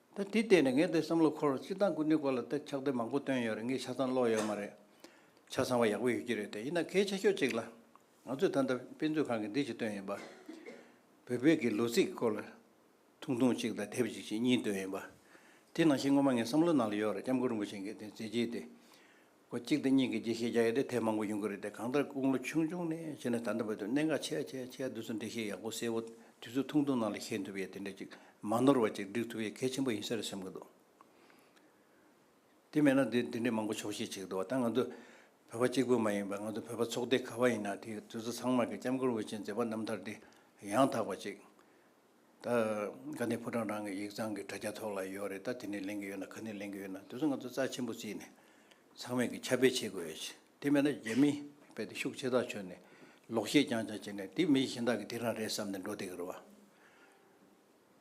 ད་དེ་བལྟས་ནས་ངས་འདིར་བསམ་བློ་འཁོར་བར་སྤྱིར་བཏང་སྐུ་མདུན་སྐོར་ལ་ད་ཆགས་བསྡད་མང་པོ་བཏོན་ཡོད་རེད་ངས་ཆ་ཚང་ཀློག་ཡོད་མ་རེད། ཆ་ཚང་བ་ཡག་པོ་ཡོད་ཀྱི་རེད་དེ་ཡིན་ན་གལ་ཆེ་ཤོས་གཅིག་ལ། ང་ཚོས་ད་ལྟ་དཔེ་མཛོད་ཁང་གིས་འདི་ཅིག་བཏོན་ཡིན་པ། བོད་བོད་ཀྱི་ལོ་ཚིགས་སྐོར་ལ་ཐུང་ཐུང་གཅིག་དང་དེབ་ཅིག་ཅིག་གཉིས་བཏོན་ཡིན་པ། དེ་ནང་བཞིན་སྔོན་མ་ངས་བསམ་བློ་གནང་ལ་ཡོད་རེད་སྐྱབས་མགོན་རིན་པོ་ཆེ་མཁན་དེ་མཛད་རྗེས་དེ། སྒོ་གཅིག་དང་གཉིས་ཀྱི་འགྲེལ་བཤད་རྒྱག་ཡ་དེ་ཐེངས་མང་པོ་ཡོང་གི་རེད་དེ་གང་ལྟར་དགུང་ལོ་ཆུང་ཆུང་ནས་བྱས་ན་ད་ལྟ་བར་དུ་གནད་འགག་ཆེ་ཆེ་ཆེ་འདུག་ཚུལ་འགྲེལ་བཤད་ཡག་པོ་གསལ་བོ་དུས་ཚོད་ཐུང་ཐུང་ནང་ལ་ཤེས་ཐུབ་ཡས་དེ་འདྲ་ཅིག་མ་ནོར་བ་ཅིག་བསྒྲིག་ཐུབ་ཡས་གལ་ཆེན་པོ་ཡིན་ས་རེད་སེམས་གི་འདུག་དེ་མེད་ན་འདི་འདྲའི་མང་པོ་ཆོག་ཤེས་ཆེ་གི་འདུག་བ་ད་ང་ཚོ་བོད་པ་གཅིག་པུ་མ་ཡིན་པར་ང་ཚོ་བོད་པ་ཚོགས་སྡེ་ག་བ་ཡིན་ན་དེ་དུས་ཚོད་ཚང་མར་གྱི་ལྕམ་སྐུར་འོས་ཆེན་མཛད་པ་རྣམ་ཐར་འདི་ཡང་དག་པ་ཅིག་ད་ག་ནས་ཕོ་བྲང་རང་གི་ཡིག་ཚང་གི་དྲ་རྒྱ་ཐོག་ལ་ཡོད་རེད་ད་དེ་ནས་ལེན་གི་ཡོད་ན་ག་ནས་ལེན་གི་ཡོད་ན་དེ་ཚོ་ང་ཚོ་རྩ་ཆེན་པོ་བརྩིས་ནས་ཚང་མས་ཀྱི་ཁྱབ་སྤེལ་བྱེད་དགོས་ཡོད་ཆེ་དེ་མེད་ན་རྒྱ་མི་བས་དེ་ཤུགས་ཆེ་ཐག་ཆོད་ནས་ལོག་བཤད་རྐྱང་རྐྱང་བྱེད་ནས་དེ་མི་གཞན་དག་གི་དེ་རང་རེད་བསམ་ནས་འགྲོ་བསྡད་ཀྱི་རེད་བ།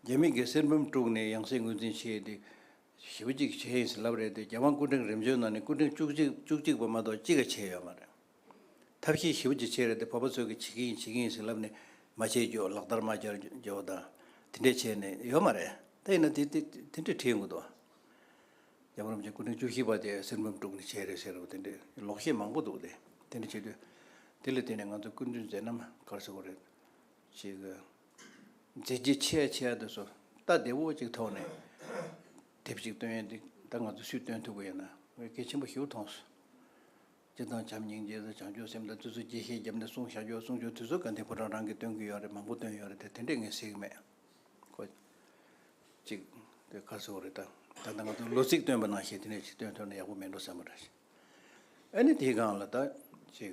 རྒྱ་མི་གིས་གསེར་འབུམ་དཀྲུགས་ནས་ཡང་སྲིད་ངོས་འཛིན་བྱས་ཏེ་ཞེ་བོ་གཅིག་བྱས་ཡིན་ཟེར་ལབ་རེད་དེ་རྒྱ་དབང་སྐུ་ཕྲེང་རིམ་བྱོན་ནང་ནས་སྐུ་ཕྲེང་བཅུ་གཅིག་བཅུ་གཅིག་པ་མ་གཏོགས་གཅིག་ག་བྱས་ཡོད་མ་རེད། ཐབས་ཤེས་ཞིབ་ཀྱིས་བྱེད་རེད་དེ་བོད་པ་ཚོས་ཀྱིས་བྱེད་ཀྱིན་ཡིན་བྱེད་ཀྱིན་ཡིན་ཟེར་ལབ་ནས་མ་བྱེད་རྒྱུ་ལག་བསྟར་མ་རྒྱག་རྒྱུ་དང་དེ་འདྲས་བྱས་ནས་ཡོད་མ་རེད་ད་ཡིན་ན་དེ་དེ་དེ་འདྲས་བྲིས་ཡོང་གི་འདུག་རྒྱ་གར་རིན་པོ་ཆེ་སྐུ་ཕྲེང་བཅུ་བཞི་པ་དེ་གསེར་འབུམ་དཀྲུགས་ནས་བྱས་རེད་ཟེར་རོ་དེ་འདྲས་ལོག་བཤད་མང་པོ་འདུག་དེ་དེ་འདྲས་བྱེད་དུས་དེ་ལ་བརྟེན་ནས་ང་ཚོ་སྐུ་མདུན་མཛད་རྣམ་དཀར་ཟེར་བ་རེད་ཅེས་གི། མཛད་རྗེས་ཆེ་ཆེ་དེ་ཚོ་རྟ་བདེ་བོ་ཅིག་ཐོག་ནས་དེབ་ཅིག་བཏོན་ཡོད་འདུག་ད་ང་ཚོ་སུས་བཏོན་ཐུབ་ཀྱི་ཡོད་ན་དགེ་བཤེས་ཆེན་པོ་ཞུ་ཐོངས་སུ། སྤྱིར་བཏང་བྱམས་སྙིང་རྗེ་དང་བྱང་ཆུབ་སེམས་དང་བརྩི་ཚུལ་གྱིས་ཤེས་རྒྱབ་ནས་གསུང་བཤད་ཆོག་གསུང་ཆོག་དུས་ཚོད་ག་འདི་ཁོ་རང་རང་གིས་སྟོན་གྱི་ཡོད་རེད་མང་པོ་སྟོན་ཡོད་རེད་དེ་དེ་འདྲས་ངས་གཟིགས་མེད། ཁོ། ཅིག། དེ་ཁ་སོ་རེད་ད། ད་ལྟ་ང་ཚོ་ལོ་ཚིགས་སྟོན་པ་ནང་བཞིན་དེ་འདྲས་ཅིག་སྟོན་ཐུབ་ན་ཡག་པོ་མེད་འགྲོ་བསམ་པ་འདྲ་ཞིག། ཨ་ནི་དེའི་སྒང་ལ་ད། ཅིག།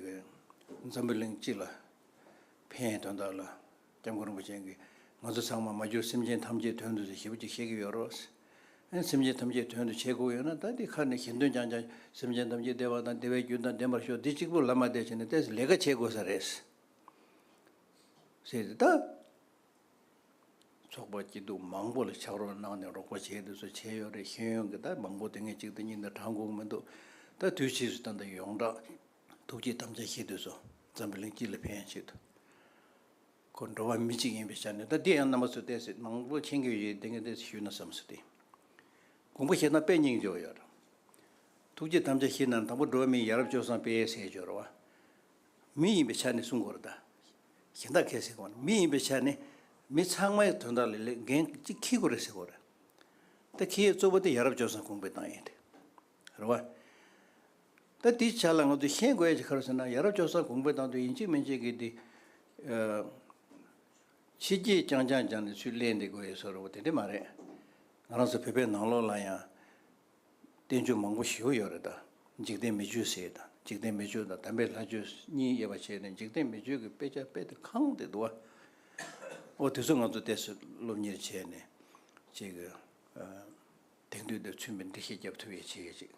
འཛམ་བུ་གླིང་སྤྱི་ལ། ཕན་ཡོད་དོན་དག་ལ། སྐྱབས་མགོན་རིན་པོ་ཆེན་གྱིས་ང་ཚོ་ཚང་མ་མ་གྱུར་སེམས་ཅན་ཐམས་ཅད་དོན་དུ་ཟེར་ཞེས་པ་ཅིག་བཤད་ཀྱི་ཡོད་རེད། སེམས་ཅན་ཐམས་ཅད་དོན་དུ་བྱེད་དགོས་ཡོད་ན་ད་འདི་ཁར་ནས་གཞན་དོན་ཀྱང་བྱ། སེམས་ཅན་ཐམས་ཅད་བདེ་བ་དང་བདེ་བའི་རྒྱུན་དང་ལྡན་པར་ཤོག་འདི་གཅིག་པུ་ལ་མ་བལྟས་ཕྱིན་ནས་བལྟས་ཟིན་ལས་ཀ་བྱེད་དགོས་ས་རེད། ཟེར་ཏེ་ད། ཚོགས་པ་སྐྱིད་སྡུག་མང་པོ་ལ་ཕྱག་རོགས་གནང་ནས་རོགས་པ་བྱས་ཏེ་སུ་བྱས་ཡོད་རེད་ཤེས་ཡོན་གྱི་ད་མང་པོ་དེ་སྔའི་གཅིག་དང་གཉིས་དང་གྲངས་དགོངས་མི་འདུག་ད་དུས་ཕྱིས་སུ་ད་ད་ཡོངས་གྲགས། ཐུགས་རྗེའི་དམ་བཅའ་བཞེས་འདོད་སོ། འཛམ་བུ་གླིང་སྤྱི་ལ་ཕན་ཡང་ཆེད་དུ། ཁོ་འགྲོ་བ་མི་གཅིག་ཡིན་པའི་ཆ་ནས་ད་འདི་ཡང་རྣམ་པ་ཚོས་བལྟས་ཚེ་མང་པོ་མཁྱེན་གྱི་ཡོད་དེ་ངས་བལྟས་ཚེ་ཞུས་ན་བསམ་སོ་སྟེ། དགོངས་པ་བཞེས་ན་དཔེ་རྙིང་འཇོག་ཡོད། ཐུགས་རྗེའི་དམ་བཅའ་བཞེས་ན་དང་པོ་འགྲོ་བ་མིའི་ཡ་རབས་སྤྱོད་བཟང་དཔེའི་ཟས་སྦྱོར་བ། མི་ཡིན་པའི་ཆ་ནས་གསུང་སྐོར་དང། གཞན་དག་གས་ཟེར་སྐོར་ནི་མི་ཡིན་པའི་ཆ་ནས་མི་ཚང་མའི་དོན་དག་ལས་ལས་འགན་གཅིག་ཁེའི་སྐོར་རེད་ཟེར་སྐོར་རེད། ད་ཁེའི་གཙོ་བོ་དེ་ཡ་རབས་སྤྱོད་བཟང་གོང་སྤེལ་གཏང་ཡིན་ཏེ། རེད་བ། ད་དེའི་ཆ་ལ་ང་ཚོས་ཤེས་དགོས་ཡ་ཅི་ཁར་ཟེར་ན་ཡ་རབས་ཅོག་གསར་གོང་འཕེལ་བཏང་དུས་ཡིན་གཅིག་མིན་གཅིག་གིས་དེ། ཕྱི་རྒྱལ་རྐྱང་རྐྱང་སྦྱངས་ནས་ཚུར་གླན་འདེད་དགོས་ཡོད་ས་རེད་བ་དེ་འདྲ་མ་རེད། ང་རང་ཚོ་བོད་པའི་ནང་ལོགས་ལ་ཡང། བསྟན་བཅོས་མང་པོ་ཞིག་ཡོད་རེད་ད། འཇིག་རྟེན་མི་ཆོས་ཟེར་དང་འཇིག་རྟེན་མི་ཆོས་དང་དམ་པའི་ལྷ་ཆོས་གཉིས་དབྱེ་བ་ཕྱེས་ནས་འཇིག་རྟེན་མི་ཆོས་ཀྱི་དཔེ་ཆ་དཔེ་དེབ་ཁང་དེ་འདུག་བ། འོ་དེ་ཚོ་ང་ཚོ་བལྟས་སོ་སློབ་གཉེར་བྱས་ནས། ཅེས། དེང་དུས་འདིར་མཚོན་པའི་འདི་ཞེས་རྒྱབ་ཐོ་ཡས་ཆེ་གེ་ཅིག་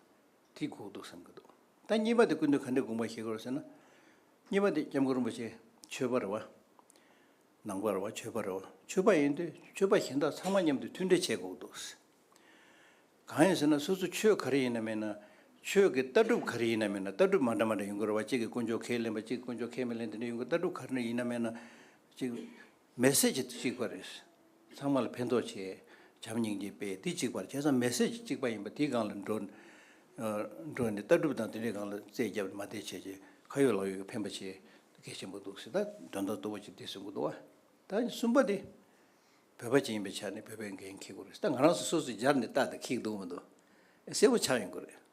དེ་གོ་འདུག་བསམ་གི་འདུག་ད་གཉིས་པ་དེ་ཀུན་ཏུ་ག་འདི་དགོངས་པ་ཞིག་གོ་ཟེར་ན། གཉིས་པ་དེ་སྐྱབས་མགོན་རིན་པོ་ཆེ་ཆོས་པ་རེད་བ། ནང་པ་རེད་བ་ཆོས་པ་རེད་བ་ཆོས་པ་ཡིན་དུས་ཆོས་པ་གཞན་དག་ཚང་མ་མཉམ་དུ་མཐུན་འབྲེལ་བྱས་གོ་འདུག། གང་ཡིན་ཟེར་ན་སོ་སོ་ཆོས་ག་རེ་ཡིན་ན་མིན་ན་ཆོས་ཀྱི་ལྟ་གྲུབ་ག་རེ་ཡིན་ན་མིན་ན་ལྟ་གྲུབ་མ་འདྲ་མ་འདྲ་ཡིན་གོ་རེད་བ་གཅིག་གི་དཀོན་མཆོག་ཁས་ལེན་པ་གཅིག་གི་དཀོན་མཆོག་ཁས་མི་ལེན་དེ་འདྲ་ཡིན་གོ་ལྟ་གྲུབ་ག་རེ་ཡིན་ན་མིན་ན་གཅིག་མེ་སྲེག་བྱེད་དུ་བཅུག་པ་རེད། ཚང་མ་ལ་ཕན་ཐོགས་ཆེད་བྱམས་སྙིང་རྗེ་དཔེ་འདི་གཅིག་པར་བྱས་ཙང་མེ་སྲེག་གཅིག་པ་ཡིན་པ་དེའི་སྒང་ལ་འགྲོ། འགྲོ་ནས་ལྟ་གྲུབ་དང་དེ་འདྲའི་སྒང་ལ་རྩད་བརྒྱབ་ནས་མ་བསྡད་བྱས་རྗེས་ཁ་ཡོད་ལག་ཡོད་ཀྱི་ཕན་པ་ཆེ་གེ་ཆེན་པོ་འདུག་ཟེར་ད་དོན་དག་གཏོ་བོ་ཅིག་འདི་ཟེར་དགོས་འདུག་བ། ད་གསུམ་པ་དེ། བོད་པ་ཅིག་ཡིན་པའི་ཆ་ནས་བོད་པའི་འགན་འཁྱེར་དགོས་རེད་ད་ང་རང་སོ་སོས་སྦྱར་ནས་བལྟ་དང་གིས་འདུག་མི་འདུག་གསལ་བོ་ཆགས་ཡོང་གི་རེད།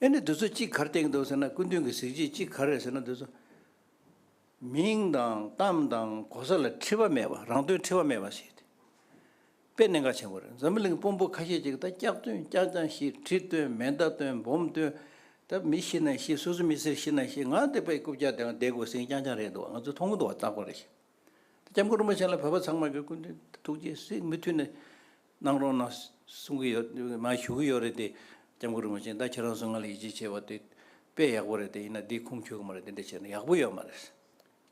ཨེ་ནི་དུས་ཚོད་གཅིག་གར་སྟེང་འདུག་ཟེར་ན་སྐུ་མདུན་གྱི་གཟིགས་རྗེས་གཅིག་ག་རེད་ཟེར་ན་དུས་ཚོད། མིང་དང་གཏམ་དང་གོ་ས་ལ་འཁྲི་བ་མེད་པ་རང་དོན་འཁྲི་བ་མེད་པ་ཞིག་སྟེ། དཔེ་གནད་འགག་ཆེན་པོ་རེད་འཛམ་བུ་གླིང་དཔོན་པོ་ཁ་ཤས་ཅིག་ད་སྐྱག་སྟོན་སྐྱག་རྐྱང་ཤི་ཁྲི་སྟོན་མེ་མདའ་སྟོན་འབོམ་སྟོན། ད་མི་ཤི་ན་ཤི་སོ་སོ་མི་སེར་ཤི་ན་ཤི་ང་འདི་པའི་རྐུབ་བཀྱག་དེའང་བསྡད་དགོས་ཟིན་རྐྱང་རྐྱང་རེད་འདུག་ང་ཚོས་མཐོང་གི་འདུག་བ་སྟག་པ་རེད་ཞེས། ད་སྐྱབས་མགོན་རིན་པོ་ཆེ་ལ་བོད་པ་ཚང་མ་གིས་སྐུ་མདུན་ཐུགས་རྗེས་གཟིགས་མི་མཐུད་ནས། གནང་རོགས་གནང་གསུང་གི་ཡོད་མ་ཞུ་གི་ཡོད་རེད་དེ། སྐྱབས་མགོན་རིན་པོ་ཆེ་ད་ཁྱེད་རང་ཚོ་ང་ལ་ཡིད་ཆེས་བྱེད་པ་དེ་དཔེ་ཡག་པོ་རེད་དེ་ཡིན་ན་འདི་ཁུངས་འཁྱོལ་གི་མ་རེད་དེ་འདྲ་བྱས་ན་ཡག་པོ་ཡོད་མ་རེད།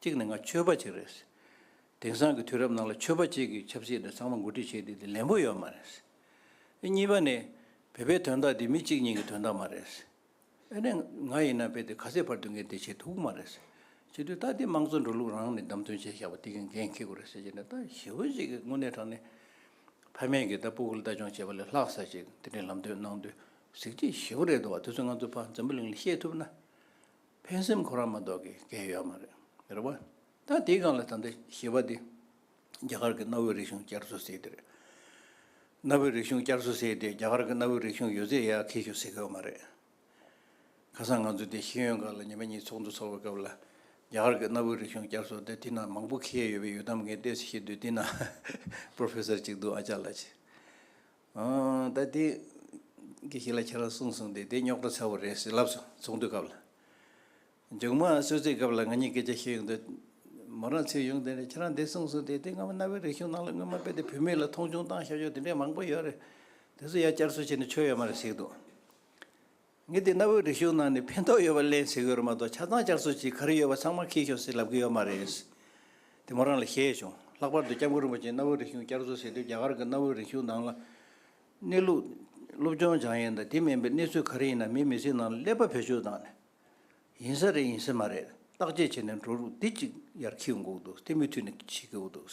གཅིག་ནས་ང་ཆོས་པ་གཅིག་རེད། དེང་སང་གི་དུས་རབས་ནང་ལ་ཆོས་པ་གཅིག་གིས་ཆབ་སྲིད་འདི་ཚང་མ་འགོ་ཁྲིད་བྱེད་དེ་དེ་ལན་པོ་ཡོད་མ་རེད། གཉིས་པ་ནས་བོད་པའི་དོན་དག་འདི་མི་གཅིག་གཉིས་ཀྱི་དོན་དག་མ་རེད། ཨེ་ནས། ང་ཡིན་ན་དཔེ་དེ་ག་ཚད་བར་དུ་ངས་དེ་བྱེད་ཐུབ་ཀྱི་མ་རེད་ཟེར། བྱེད་དུས་ད་དེ་དམངས་གཙོའི་འགྲོ་ལུགས་རང་ནས་བདམས་ཐོན་བྱས་བཞག་པ་དེ་གའི་འགན་འཁྱེར་དགོས་རེད་ཟེར་གྱི་ནས་ད་ཞི་བོ་གཅིག་གིས་དངོས་གནས་དྲང་ནས། ཕ་མེས་ཀྱིས་ད་སྤུ་གུར་ལྟ་སྦྱོང་བྱེད་པ་ལས་ལྷག་ས་ཞིག་དེ་འདྲའི་ལམ་སྟོན་གནང་དུས་གཟིགས་ཀྱི་ཞི་བོ་རེད་འདུག་བ་དེ་ཚོ་ང་ཚོ་ཕ་འཛམ་བུ་གླིང་ལ་ཤེས་ཐུབ་ན། ཕན་སེམས་ཁོ་རང་མ་གཏོགས་ཀྱི་འགན་ཡོད་མ་རེད། རེད་བ། ད་དེའི་སྒང་ལ་ད་ལྟ་ཞི་བ་དེ། རྒྱ་གར་གྱི་གནའ་བོའི་རིག་གཞུང་བསྐྱར་གསོ་ཟེར་གྱི་རེད། གནའ་བོའི་རིག་གཞུང་བསྐྱར་གསོ་ཟེར་ཏེ་རྒྱ་གར་གྱི་གནའ་བོའི་རིག་གཞུང་ཡོད་ཚད་ཡར་འཁེལ་ཞོར་ཟེར་གི་མ་རེད། ཁ་སང་ང་ཚོ་དེ་ཤེས་ཡོན་ཁང་ལ་ཉི་མ་གཉིས་ཚོགས་འདུ་ཚོགས་པའི་སྐབས་ལ། རྒྱ་གར་གྱི་གནའ་བོའི་རིག་གཞུང་བསྐྱར་གསོ་དེ་དེ་ན་མང་པོ་འཁེལ་ཡོད་པའི་ཡུལ་གཏམ་ངས་བལྟས་ཚེ་ཤེས་དུས་དེ་ན Professor ཅིག་འདུག་ཨ་ཅག་ལགས། ད་དེ་གྱིས་ཞིག་ལ་ཁྱེད་རང་གསུངས་སོང་དེ་དེ་རྙོག་དྲ་ཚ་བོ་རེད་ཟེར་ལབ་སོང་ཚོགས་འདུའི་སྐབས་ལ། མཇུག་མ་གསོལ་ཚིགས་སྐབས་ལ་ང་གཉིས་སྐད་ཆ་བཤད་ཡོང་དུས། མོ་རང་ཚུར་ཡོང་དེ་ནས་ཁྱེད་རང་འདི་གསུངས་གསུངས་དེ་དེ་སྔ་མོ་གནའ་བོའི་རིག་གཞུང་ནང་ལ་སྔོན་མ་དཔེ་དེབ་བུད་མེད་ལ་མཐོང་ཆུང་བཏང་ཤོག་ཤོག་དེ་འདྲའི་མང་པོ་ཡོད་རེད། དེ་ཚོ་ཡར་བསྐྱར་གསོ་བྱས་ནས་ཆོ་ཡོད་མ་རེད་ཟེར་འདུག་ངས་དེ་གནའ་བོའི་རིག་གཞུང་ནང་ནས་ཕན་ཐོགས་ཡོད་པ་གླེང་ཟེར་གི་རེད་མ་གཏོགས་ཆ་ཚང་བསྐྱར་གསོ་བྱེད་ག་རེ་ཡོད་པ་ཚང་མ་ཁེལ་ཤོག་ཟེར་ལབ་གི་ཡོད་མ་རེད། དེ་མོ་རང་ལ་བཤད་བྱུང་ལྷག་པར་དུ་སྐྱབས་མགོན་རིན་པོ་ཆེས་གནའ་བོའི་རིག་གཞུང་བསྐྱར་གསོ་ཟེར་དུས་རྒྱ་གར་གྱི་གནའ་བོའི་རིག་གཞུང་ནང་ལ། གནས་ལུགས། སློབ་སྦྱོང་སྦྱང་ཡས་དང་དེ་མིན་པའི་གནས་ཚུལ་ག་རེ་ཡིན་ན་མིའི་མི་ཚེའི་ནང་ལ་ཀླད་པ་བེད་སྤྱོད་བཏང་ནས། ཡིན་ས་རེད་ཡིན་ས་མ་རེད་བརྟག་དཔྱད་བྱས་ནས་འགྲོ་རུག་འདི་གཅིག་ཡར་འཁྱིལ་འགོག་འདུག་དེ་མུ་མཐུད་ནས་འཁྱིལ་གི་འོ་འདུག།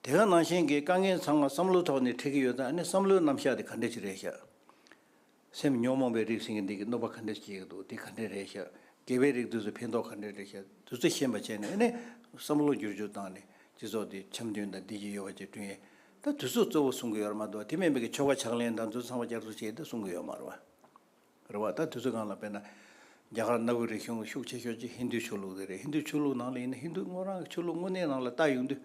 དེ་ག་ནང་བཞིན་གྱི་དཀའ་ངལ་ཚང་མ་བསམ་བློའི་ཐོག་ནས་འཕྲད་ཀྱི་ཡོད་ད་ནི་བསམ་བློའི་རྣམ་གཞག་དེ་ག་འདྲས་ཅིག་རེད་ཤག། སེམས་ཉོག་མོངས་པའི་རིགས་ཟིན་གྱི་འདི་གི་གནོད་པ་ག་འདྲས་ཅིག་སྐྱེལ་གྱི་འདུག་དེ་ག་འདྲས་རེད་ཤག་དགེ་བའི་རིགས་དུས་སུ་ཕན་ཐོག་ག་འདྲས་རེད་ཤག་དུས་སུ་ཤེས་པ་བྱས་ནས་ནི་བསམ་བློ་བསྒྱུར་བཅོས་བཏང་ནས་སྤྱི་ཚོགས་དེ་འཆམ་མཐུན་དང་བདེ་སྐྱིད་ཡོད་པ་བཅས་བསྐྲུན་ཡས་ད་དུས་སུ་གཙོ་བོ་གསུང་གི་ཡོད་ར་མ་གཏོགས་དེ་མིན་པའི་གི་ཆོ་ག་ཕྱག་ལེན་དང་དུས་ཚང་མ་བསྐྱར་གསོ་བྱས་ཏེ་གསུང་གི་ཡོད་མ་ར། རེད་བ། ད་དུས་ཚོད་གང་ལ་དཔེར་ན། རྒྱ་གར་གནའ་བོའི་རིག་གཞུང་ལ་ཤུགས་ཆེ་ཤོས་ཀྱི་ཧིན་དུའི་ཆོས་ལུགས་དེ་རེད་ཧིན་དུའི་ཆོས་ལུགས་ནང་ལ་ཡིན་ན་ཧིན་དུ་དངོས་རང་གི་ཆོས་ལུགས་དངོས་གནས་ནང་ལ་བཏགས་ཡོང་དུས།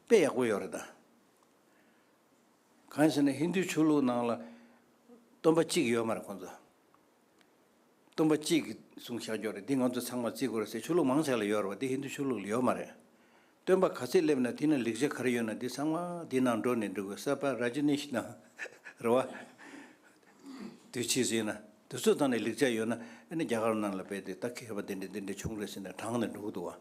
དཔེ་ཡག་པོ་ཡོད་རེད་ད། གང་ཞེ་ན་ཧིན་དུའི་ཆོས་ལུགས་ནང་ལ། སྟོན་པ་གཅིག་ཡོད་མ་རེད་ཁོང་ཚོ། སྟོན་པ་གཅིག་གིས་གསུང་བཤགས་རྒྱོགས་རེད་འདི་ང་ཚོ་ཚང་མ་བརྩི་དགོས་རེད་ཟེར་ཆོས་ལུགས་མང་ཆེ་ལ་ཡོད་རེད་བ་འདི་ཧིན་དུའི་ཆོས་ལུགས་ལ་ཡོད་མ་རེད། སྟོན་པ་ག་ཚད་སླེབས་ན་དེ་ན་ལེགས་ཆ་ག་རེ་ཡོད་ན་དེ་ཚང་མ་དེ་ནང་འགྲོ་ནས་འགྲོ་དགོས་གསར་པ་ར་ཇི་ནེས་ན་རེ་བ་དེ་བྱས་ཟིན་ན་དེ་ཚོ་དང་ནས་ལེགས་ཆ་ཡོད་ན་ཨེ་ན་རྒྱ་གར་ནང་ལ་བས་ཏེ་ད་ཁེར་བ་དེ་འདྲ་དེ་འདྲ་བྱུང་རེ་ཟིན་ན་དྲང་ནས་འགྲོ་གི་འདུག་བ།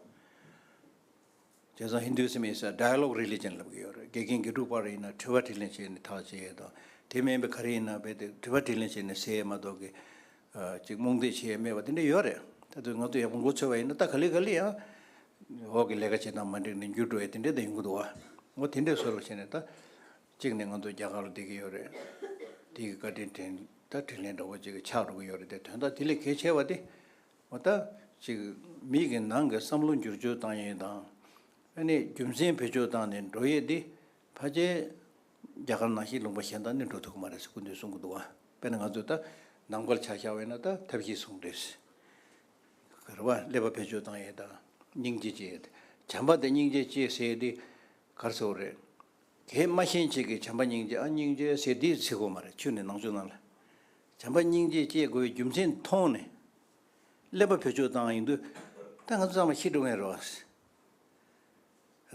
དེང་སང Hinduism is a dialogue religion ལབ་གི་ཡོད་རེད་དགེ་རྒན་དགེ་ཕྲུག་བར་ཡིན་ན་དྲི་བ་དྲིས་ལན་བྱས་ནས་ཐག་བཅད་ཡས་དང་དེ་མིན་པའི་ག་རེ་ཡིན་ན་བས་ཏེ་དྲི་བ་དྲིས་ལན་བྱས་ནས་ཟེ་ཡས་མ་གཏོགས་ཀི། ཅིག་རྨོངས་དད་བྱེད་ཡས་མེད་པ་དེ་འདྲ་ཡོད་རེད་ད་དུས་ང་ཚོ་ཡག་པོ་འགོ་ཚོལ་བ་ཡིན་ན་ད་ག་ལེ་ག་ལེ་ཡང་འོག་གི་ལས་ཀ་བྱེད་སྟངས་མ་འགྲིག་ནས་འགྱུར་འགྲོ་ཡས་དེ་འདྲས་ད་ཡོང་གི་འདུག་བ་ངོ་དེ་འདྲས་བཟོས་ལ་བྱས་ནས་ད་ཅིག་ནས་ང་ཚོ་རྒྱ་གར་ལ་བསྡད་ཀྱི་ཡོད་རེད་དེ་གི་བཀའ་དྲིན་དྲན་ད་དྲིན་ལན་འདྲ་བོ་ཅིག་གི་ཆགས་འགྲོ་གི་ཡོད་རེད་དེ་དོན་དག་དེ་ལས་གལ་ཆེ་བ་དེ་ངོ་ད་ཅིག་མིག་གི་ནང་གི་བསམ་བློ་འགྱུར་བཅོས་བཏང་ཡས་དང་ཨ་ནས་རྒྱུ་མཚན་བེད་སྤྱོད་བཏང་ནས་འགྲོ་ཡས་དེ་ཕ་རྒྱལ། རྒྱ་གར་ནང་ཤིང་ལུང་པ་གཞན་དག་ནི་འགྲོ་ཐུག་གི་མ་རེད་ཟེར་སྐུ་མདུན་གསུང་གི་འདུག་དཔེར་ན་ང་ཚོས་ད་ནང་པར་ཆ་བཞག་བས་ན་ད་ཐབས་ཤེས་གསུང་འདོད་ཟེར། གར་བ་ཀླད་པ་བེད་སྤྱོད་བཏང་ཡས་དང་སྙིང་རྗེ་སྐྱེས་ཡས་དེ་བྱམས་པ་དེ་སྙིང་རྗེ་སྐྱེས་ཟེར་ཡས་འདི་གར་ཚེ་བོ་རེད། གས་སྨྲ་ཤན་འབྱེད་ཀྱི་བྱམས་པ་སྙིང་རྗེ་ཨ་སྙིང་རྗེ་ཟེར་འདི་ཚེ་བོ་མ་རེད་ཆུ་ནི་ནང་ཆུ་ནང་ལ། བྱམས་པ་སྙིང་རྗེ་སྐྱེས་དགོས་པའི་རྒྱུ་མཚན་མཐོང་ནས། ཀླད་པ་བེད་སྤྱོད་བཏང་ཡས་འདུག་ད་ང་ཚོ་ཚང་མ་ཤི་འགྲོ་ངེས་རེད་བ།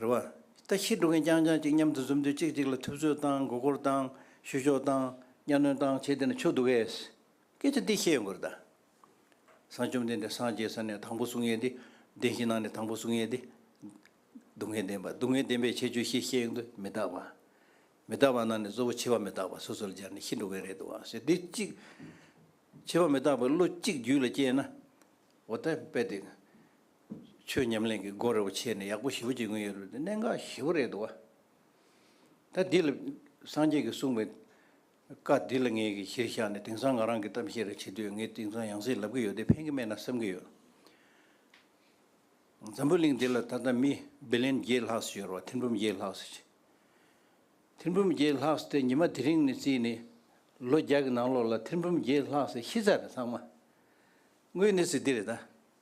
རེ་བ། ལྟ་ཞིབ་འགྲོ་མཁན་རྐྱང་རྐྱང་གཅིག་མཉམ་དུ་འཛོམས་དུས་གཅིག་གཅིག་ལ་ཐུབ་ཚོད་བཏང་མགོ་སྐོར་བཏང་བཤུ་གཞོག་བཏང་གཉའ་གནོན་བཏང་བྱས་དེ་ནས་ཆོག་འདུག་གས། སྐད་ཆ་འདི་བཤད་ཡོང་གི་རེད་ད། བཟང་བཅོམ་ལྡན་འདས་སངས་རྒྱས་ས་ནས་དང་པོ་གསུང་ཡས་འདི། བདེན་བཞི་ནང་ནས་དང་པོ་གསུང་ཡས་འདི། སྡུག་བསྔལ་བདེན་པ་སྡུག་བསྔལ་བདེན་པའི་ཁྱད་ཆོས་ཤེས་བཤད་ཡོང་དུས་མི་རྟག་པ། མི་རྟག་པ་ནང་ནས་གཙོ་བོ་འཆི་བ་མི་རྟག་པ་སོ་སོར་སྦྱར་ནས་ཤི་འགྲོ་མཁན་རེད་འདུག་གས་འདི་གཅིག། འཆི་བ་མི་རྟག་པའི་བློ་གཅིག་རྒྱུད་ལ་སྐྱེས་ན། འོ་ད་དཔེ་དེ། ཆོས་ཉམས་ལེན་གྱི་སྒོ་རེ་བ་ཕྱེས་ནས་ཡག་པོ་ཞི་བོ་བྱེད་མཁན་ཡོད་རེད་དེ་གནད་འགག་ཞི་བོ་རེད་དོ། ད་འདི་ལ་སངས་རྒྱས་ཀྱིས་གསུངས་པའི་བཀའ་འདི་ལ་ངེད་ཀྱིས་གཞིར་བཞག་ནས་དེང་སང་ང་རང་གིས་གཏམ་བཤད་རེ་བྱེད་དུས་ངས་དེང་སང་ཡང་སྲིད་ལབ་ཀྱི་ཡོད་དེ་ཕན་གྱི་མེད་ན་བསམ་གྱི་ཡོད། འཛམ་བུ་གླིང་འདི་ལ་ད་ལྟ་མི་བི་ལེན་བརྒྱད་ལྷག་སུ་ཡོད་རེད་བ་ཐིན་འབུམ་བརྒྱད་ལྷག་སུ། ཐིན་འབུམ་བརྒྱད་ལྷག་སུ་དེ་ཉི་མ་དེ་རིང་ནས་བརྩིས་ནས་ལོ་བརྒྱ་གྱི་ནང་ལོགས་ལ་ཐིན་འབུམ་བརྒྱད་ལྷག་སུ་ཤི་ཚར་རེད་ཚང་མ། དངོས་གནས་ཚིག་འདི་རེད་ད།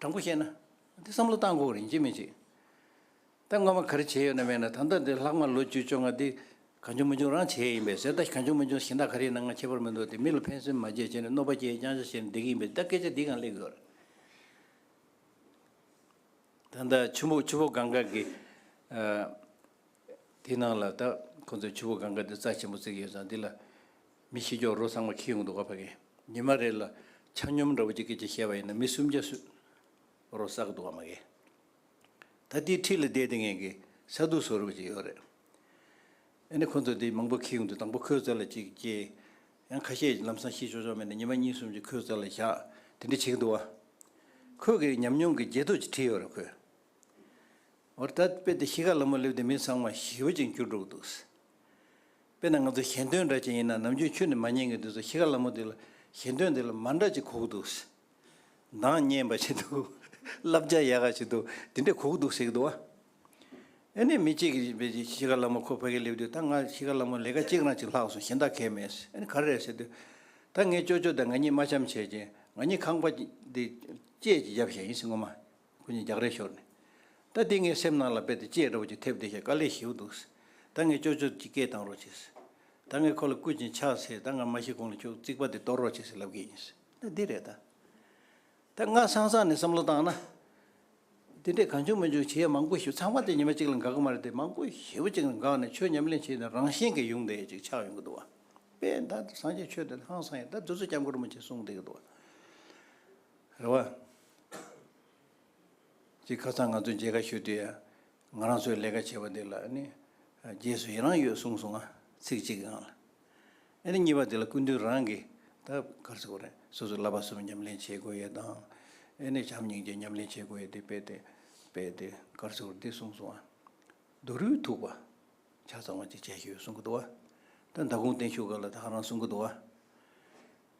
དྲང་པོ་བཤད་ན། འདི་བསམ་བློ་བཏང་ཁོག་རིན་ཆེན་མི་བྱེད། ད་སྔོན་མ་ག་རེ་བྱས་ཡོད་ན་མེད་ན་ད་ལྟ་འདི་ལྷག་མ་ལོ་བཅུ་བཅོ་ལྔ་འདི་གང་བྱུང་མི་བྱུང་རང་བྱས་ཡིན་པས་ཟེར་ད་གང་བྱུང་མི་བྱུང་ཞིང་དག་ག་རེའི་ནང་ང་ཁྱད་པར་མི་འདུག་སྟེ་མི་ལ་ཕན་སེམས་མ་བྱེད་བྱས་ནས་གནོད་པ་བསྐྱལ་རྐྱང་བྱ་བྱས་ནས་བསྡད་ཀྱི་ཡིན་པས་ད་སྐད་ཆ་འདི་གང་གླེང་དགོས། ད་ལྟ་ཆུ་མོ་ཆུ་བོ་གངྒཱ་གི་དེའི་ནང་ལ་ད་ཁོང་ཚོས་ཆུ་བོ་གངྒཱ་འདི་རྩ་ཆེན་པོ་བརྩིགས་ཡོད་ཙང་འདི་ལ། མི་ཤེས་ཀྱོག་རོ་ཚང་མ་ཁྱི་ཡོང་འདུག་ག་ཕ་གི་ཉི་མ་རེད་ལ་ཆ་སྙོམས་འདྲ་པོ་ཅིག་གིས་ཅིག་བཤད་པ་ཡིན་ན་མི་སུམ་བརྒྱ་སུས་རོ་བསགས་འདུག་ག་མ་གི། ད་དེའི་འཁྲིས་ལ་བསྡད་དེ་ངན་གི་ས་རྡུགས་བཟོ་རུ་པ་ཅིག་ཡོད་རེད། ཨེ་ནི་ཁོ་ཚོ་དེ་མང་པོ་ཁྱི་ཡོང་འདུག་དང་པོ་ཁོའི་རྩར་ལ་ཅིག་སྐྱེལ། ཡང་ཁ་ཤས་ལམ་སང་ཤི་ཆོག་ཆོག་མེད་ན་ཉི་མ་གཉིས་གསུམ་ཅིག་ཁོའི་རྩར་ལ་བཞག་དེ་འདྲ་བྱེད་ཀྱི་འདུག་ག། ཁོས་གི་ཉམས་མྱོང་གི་རྗེས་ཐོག་ཅིག་བྲིས་ཡོད་རེད་ཁོས། འོ་ད་དཔེ་དེ་ཤི་ཁ་ལ་མོ་སླེབས་དེ་མི་ཚང་མ་ཤི་བ་ཅིག་འགྱུར་འགྲོ་གི་འདུག། དཔེར་ན་ང་ཚོ་གཞན་དོན་འདྲ་ཅན་ཡིན་ན་ནམ་རྒྱུན་ཁྱོད་ནི་མ་ཉན་གི་འདུག་ཟེར་ཤི་ག་ལ་མོ་འདི་ལ་གཞན་དོན་འདི་ལ་མ་འདྲ་ཅིག་གོ་གི་འདུག་ཟེར། འདང་བརྙན་པ་ཞིག་འདུག་བསླབ་བྱ་ཡག་ག་ཞིག་འདུག་འདི་འདྲས་གོ་གི་འདུག་ཟེར་གི་འདུག་ཨ། ཨེ་ནས་མི་གཅིག་གིས་བོས་རྗེས་ཤི་ག་ལ་མོ་ཁོ་ཕ་གིར་སླེབས་དུས་ད་ང་ཤི་ག་ལ་མོ་ལས་ཀ་གཅིག་རང་གཅིག་ལྷག་སོང་གཞན་དག་གས་མེད་ཟེར་ཨེ་ནས་ག་རེ་རེད་ཟེར་དུས། ད་ངས་ཅོ་ཅོ་དང་ང་གཉིས་མ་འཆམ་བྱས་རྗེས་ང་གཉིས་ཁང་པ་འདི་བཅས་ཀྱི་རྒྱབ་ཞྭ་ཡིན་ཟེར་ངོ་མ། ཁོ་གཉིས་རྒྱག་རེས་ཤོར་ནས། ད་དེ་ངའི་སེམས་ནང་ལ་རྦད་དེ་ཅེས་འདྲ་བོ་ཅིག་ཐེབས་བསྡད་ཤག་དཀའ་ལས་ཞེའུ་འདུག། ད་ངས་ཅོ་ཅོ་ཅིག་སྐད་བཏང་རོགས་བྱས། ད་ངས་ཁོ་ལ་སྐུལ་ཅིང་ཕྱག་འཚལ་ད་ང་མ་ཤི་གོང་ལ་ཁྱོད་རྩིག་པ་དེ་གཏོར་རོགས་བྱས་ཟེར་ལབ་གི་ཡིན། ད་འདི་རེད་ད། ད་ང་སང་སང་ནས་བསམ་བློ་བཏང་ན། དེ་འདྲས་གང་བྱུང་མི་བྱུང་བྱས་ཡ་མང་པོ་ཞིབ་ཚང་མ་དེ་ཉི་མ་གཅིག་ལ་འགག་གི་མ་རེད་དེ་མང་པོ་ཞེའུ་ཅིག་ལ་འགག་ནས་ཆོས་ཉམས་ལེན་བྱས་ནས་རང་བཞིན་གྱི་ཡོང་བསྡད་ཅིག་ཆགས་ཡོང་གི་འདུག་བ། དཔེ་ད་སངས་རྒྱས་ཆོས་དེ་ཧང་སང་ཡིན་ད་དུས་ཚོད་སྐྱབས་མགོན་རིན་པོ་ཆེ་གསུངས་བསྡད་གི་འདུག་བ། རེད་བ། ཅེས་ཁ་སང་ང་ཚོས་མཇལ་ཁ་ཞུས་དུས་ང་རང་ཚོའི་ལས་ཀ་བྱེད་པ་འདི་ལ་ནི་རྗེས་སུ་ཡི་རང་ཡོད་གསུངས་སོང་ང་ཚིག་གཅིག་གི་ངང་ལ་ཨ་རི་གཉིས་པ་འདི་ལ་སྐུ་མདུན་རང་གིས་ད་གར་སོ་རེད་སོ་སོའི་བསླབ་པ་གསུམ་ཉམས་ལེན་བྱེད་དགོས་ཡོད་དང་ཨེ་ནས་བྱམས་སྙིང་རྗེ་ཉམས་ལེན་བྱེད་དགོས་ཡོད་དེ་དཔེ་དེ་དཔེ་དེ་གར་སོ་འདི་གསུངས་སོང་ང་རྡོ་རུས་ཐུག་པ་ཆ་ཚང་བ་ཅིག་བྱས་ཞུས་གསུང་གི་འདུག་བ་ད་མདའ་དགོང་བརྟན་བཞུགས་སྐབས་ལ་ད་ཁ་རང་གསུང་གི་འདུག་བ།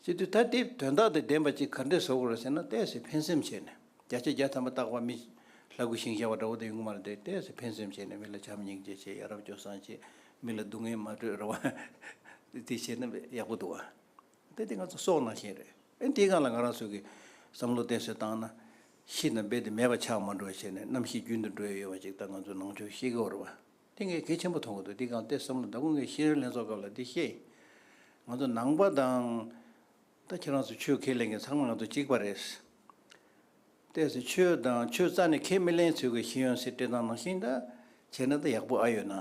སྤྱི་འཐུས་ཐ་དད་དོན་དག་དང་ལྡན་པ་གཅིག་གར་འདྲེ་བཟོ་དགོས་ར་ཟེར་ན་བལྟས་ཟེར་ཕན་སེམས་བྱས་ནས་བརྒྱ་ཆ་བརྒྱ་ཐམ་པ་བཏགས་པ་མི། ལྷ་དགུ་ཞིང་བྱ་བ་འདྲ་བོ་དེ་ཡོང་གི་མ་རེད་དེ་བལྟས་ཟེར་ཕན་སེམས་བྱས་ནས་མི་ལ་བྱམས་སྙིང་རྗེ་བྱེད་ཡ་རབས་སྐྱོ་སངས་བྱེད། མི་ལ་སྡུག་བསྔལ་མ་སྤྲོད་ར་བ། དེ་བྱས་ན་ཡག་པོ་འདུག་ཨ། དེ་དེ་ང་ཚོ་སྲོག་ནང་བཞིན་རེད་ཨེ་འདི་གང་ལ་ང་རང་ཚོ་གི། བསམ་བློ་གཏན་སྲོལ་བཏང་ན། ཤི་དང་སྦེད་དེ་མེད་པ་ཆགས་མ་འགྲོ་བ་བྱས་ནས་ནམ་ཞིག་རྒྱུན་དུ་འགྲོ་ཡ་ཡོད་བ་ཅིག་ད་ང་ཚོ་ནང་ཆོས་ཤེས་གི་འོ་ར་བ། དེ་ངས་གལ་ཆེན་པོ་མཐོང་གི་འདུག་འདི་གང་སྟེ་བསམ་བློ་ཟླ་དགུ་ངས་ཤེས་རིག་ལྷན་ཚོགས་སྐབས་ལ་འདི་བཤད། ང་ཚོ་ནང་པ་དང། ད་ཁྱེད་རང་ཚོ་ཆོས་ཁས་ལེན་མཁན་ཚང་མ་ང་ཚོ་གཅིག་པ་རེད། གཏད་སོ་ཆོས་དང་ཆོས་རྩ་ནས་ཁས་མི་ལེན་ཚུལ་གྱི་ཤེས་ཡོན་སེར་སྤྲས་དང་ནང་བཞིན་ད་བྱས་ན་ད་ཡག་པོ་ཨ་ཡོད་ན།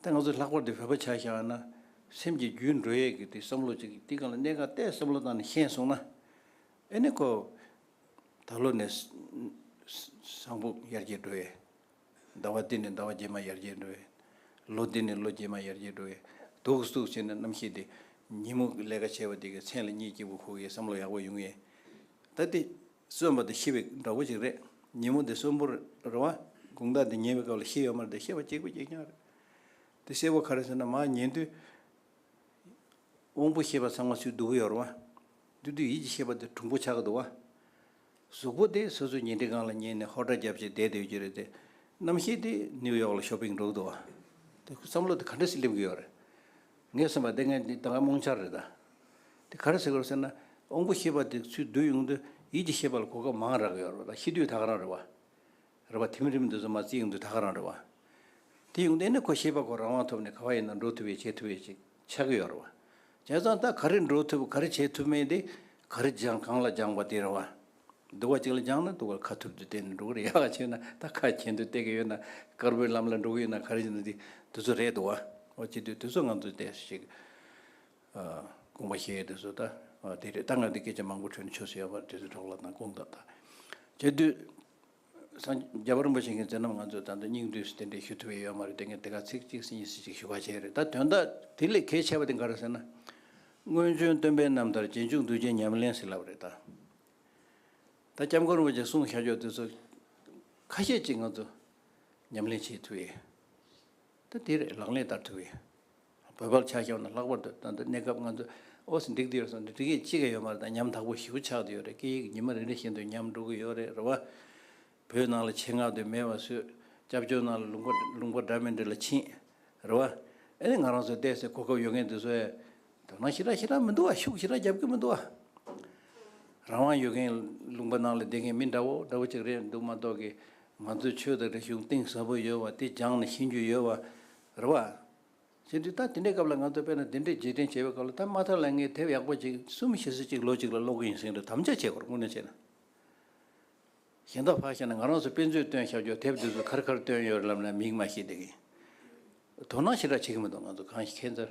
ད་ང་ཚོ་ལྷག་པར་དུ་བོད་པ་ཆ་བཞག་ན། སེམས་ཀྱི་རྒྱུད་འགྲོ་ཡས་ཀྱི་དེ་བསམ་བློ་ཅིག་གིས་འདི་གང་ལ་གནད་གང་གཏད་བསམ་བློ་དང་ནི་ཤན་སོང་ན། ཨེ་ནི་ཁོ། ད་ལོ་ནས། བཟང་པོ་ཡར་རྒྱས་འགྲོ་ཡས། ཟླ་བ་འདི་ནི་ཟླ་བ་རྗེས་མ་ཡར་རྒྱས་འགྲོ་བའི། ལོ་འདི་ནི་ལོ་རྗེས་མ་ཡར་རྒྱས་འགྲོ་བའི། དུག་གཟུགས་བཅས་ནི་རྣམ་ཤེས་ཏེ། ཉིན་མོ་གི་ལས་ཀ་བྱས་པ་དེ་གའི་མཚན་ལ་གཉིད་སྐྱིད་པོ་ཁུག་ཡའི་བསམ་བློ་ཡག་པོ་ཡོང་ཡས། ད་འདི་གསོན་པ་དང་ཤི་བའི་འདྲ་བོ་ཅིག་རེད། ཉིན་མོ་འདི་གསོན་པོ་རེད་བ། དགུང་ཟླ་འདི་ཉལ་བའི་སྐབས་ལ་ཤི་ཡོད་མ་རེད་དེ་ཤི་བ་གཅིག་པུ་གཅིག་རྐྱང་རེད། དེ་གསལ་བོ་ག་རེད་ཟེར་ན་མ་ཉལ་དུས། དབང་པོ་ཤེས་པ་ཚང་མ་ཆུས་བདུག་གི་ཡོད་རེད་བ། འདུས་དུས་ཡིད་ཀྱི་ཤེས་པ་དེ་གྲུང་པོ་ཆགས་གི་འདུག་བ། གཟུགས་པོ་དེ་སོ་སོའི་ཉེ་འབྲེལ་གང་ལ་ཉན་ནས་ཧོར་སྒྲ་རྒྱབ་ཅིང་བསྡད་སྡོད་རྒྱུ་རེད་དེ། རྣམ་ཤེས་དེ་ནིའུ་ཡོག་ལ Shopping འགྲོ་གི་འདུག་ཨ། བསམ་བློ་དེ་ག་འདྲ་ཞིག་སླེབས་ཀྱི་ཡོད་རེད། ངས་སེམས་པ་དེ་ངའི་ད་ལྟའི་རྨོངས་འཆར་རེད་ད། དེ་ག་རེ་ཟེར་དགོས་ཟེར་ན། དབང་པོ་ཤེས་པ་དེ་ཚུལ་བསྡུ་ཡོང་དུས་ཡིད་ཀྱི་ཤེས་པ་ལ་གོ་སྐབས་མང་རག་གི་ཡོད་རེད་པ་ད་ཤེས་དུས་ད་ག་རང་རེད་བ། རེ་བ་དེ་མི་རེ་མི་འདུག་ཟེར་མ་ཚད་ཡོང་དུས་ད་ག་རང་རེ་བ། དེ་ཡོང་དུས་ཨེ་ན་ཁོ་ཤེས་པ་ཁོ་རང་དབང་ཐོབ་ནས་ག་བ་ཡིན་ན་འགྲོ་ཐུབ་ཡས་བྱེད་ཐུབ་ཡས་ཅིག་ཆགས་ཀྱི་ཡོད་རེ་བ། བྱས་ཙང་ད་ག་རེ་འགྲོ་ཐུབ་ག་རེ་བྱེད་ཐུབ་མིན་དེ་ག་རེ་སྦྱང་གང་ལ་སྦྱང་བ་དེ་རེ་བ། སྡུག་བ་ཅིག་ལ་སྦྱང་ན་སྡུག་བ་ལ་ཁ་ཐུབ་དུས་གཏན་ནས་འགྲོ་གི་རེད་ཡག་བྱས་ན་ད་ཁ་གྱེན་དུས་བལྟས་ཀྱི་ཡོད་ན་དཀར་པོའི་ལམ་ལ་འགྲོ་གི་ཡོད་ན་ག་རེ་བྱེད་ན་དེ་དུས་ཚོད་རེད་འདུག་བ། འོ་ཅི་དུས་དུས་ཚོད་ང་ཚོས་དེ་ཞིག་དགོངས་པ་བཞེས་ཡོད་དུས་ཚོད་ད་དེ་རེད་ད་ང་དེ་སྐད་ཆ་མང་པོ་ཁྲོད་ནས་ཆོས་སུ་ཡོད་པ་དུས་ཚོད་གྲོགས་ལ་དང་དགོངས་དག་ད་བྱས་དུས། སངས་རྒྱས་རིན་པོ་ཆེ་མཁྱེན་བརྩེ་རྣམས་ང་ཚོས་ད་དུང་སྙིང་བསྡུས་སུ་དེ་འདྲའི་ཞུ་ཐུབ་ཡས་ཡོད་མ་རེད་དེ་ངས་དེ་ག་ཚིག་གཅིག་ཟིན་གཉིས་ཟིན་ཅིག་ཞུ་བ་བྱས་རེད་ད་དོན་དག་དེ་ལས་གལ་ཆེ་བ་དེ་འགའ་རེད་ཟེར་ན། སྔོན་བྱོན་སྟོན་པའི་རྣམ་ཐར་རྗེས་འཇུག་འདུས་བྱས་ཉམས་ལེན་ཟེར་ལབ་རེད་ད། ད་སྐྱབས་མགོན་རིན་པོ་ཆེ་གསུང་ཤར་ཕྱོགས་དེ་ཚོ་ཁ་ཤས་ཅིག་ང་ཚོ་ཉམས་ལེན་བྱེད་ཐུབ་ཡས། ད་དེ་རེད་ལག་ལེན་བསྟར་ཐུབ་ཡས། བོད་པར་ཆ་ཤས་ན་ལྷག་པར་དུ་ད་ལྟ་གནས་སྐབས་ང་ཚོ་ཨོ་སི་འགྲིག་འདི་ཡོད་སོང་འདི་འགྲིག་ཅི་ག་ཡོད་མ་རེད་ད་ཉམ་ཐག་པོ་ཞིག་ཆགས་འདི་ཡོད་རེད་སྐད་ཡིག་ཉི་མ་རེ་རེ་བཞིན་དུ་ཉམ་འགྲོ་གི་ཡོད་རེད་རེད་བ། བོད་ནང་ལ་ཆེད་མངགས་དུས་མེད་བ་སུས་སྐྱབས་བཅོལ་ནང་ལ་ལུང་པ་ལུང་པ་འདྲ་མི་འདྲ་ལ་ཕྱིན། རེད་བ། ཨེ་ནས་ང་རང་ཚོའི་བལྟས་ཚེ་གོ་སྐབས་ཡོད་མཁན་དེ་ཚོའི་དོ་སྣང་ཞེ་དྲག་ཞེ་དྲག་མི་འདུག་བ་ཤུགས་ཞེ་དྲག་རྒྱབ་ཀི་མི་འདུག་བ། རང་དབང་ཡོད་མཁན་ལུང་པ་ནང་ལ་བསྡད་མཁན་མི་འདྲ་བོ་འདྲ་བོ་ཅིག་རེད་འདུག་མ་གཏོགས་ཀི་ང་ཚོའི་ཆོས་དང་རིག་གཞུང་གཏིང་ཟབ་པོ་ཡོད་བ་དེ་སྦྱངས་ནས་ཤེས་རྒྱུ་ཡོད་བ། རེད་བ། ཟེར་འདུག་ད་དེ་འདྲའི་སྐབས་ལ་ང་ཚོ་དཔེར་ན་དེ་འདྲའི་རྗེས་དྲན་བྱེད་པའི་སྐབས་ལ་ད་མ་ཐག་ལ་ངས་དེབ་ཡག་པོ་གཅིག་གསུམ་བཞི་གསུམ་གཅིག་ལོ་གཅིག་ལ་ཀློག་གི་ཡིན་ཟེར་གྱི་འདུག་དམ་བཅའ་བྱེད་དགོས་རེད་དངོས་གནས་བྱས་ན། གཞན་དག་ཕར་བཤད་ན་ང་རང་ཚོ་དཔེ་མཛོད་བཏོན་ཤག་རྒྱོག་དེབ་འདི་ཚོ་ཁར་ཁར་བཏོན་ཡོད་རེད་ལབ་ན་མིག་མ་ཤེས་བསྡད་གི་ཡིན། དོ་སྣང་ཞེ་དྲག་བྱེད་གི་མི་འདུག་ང་ཚོ་གང་ཞིག་ཁེ་འཚར།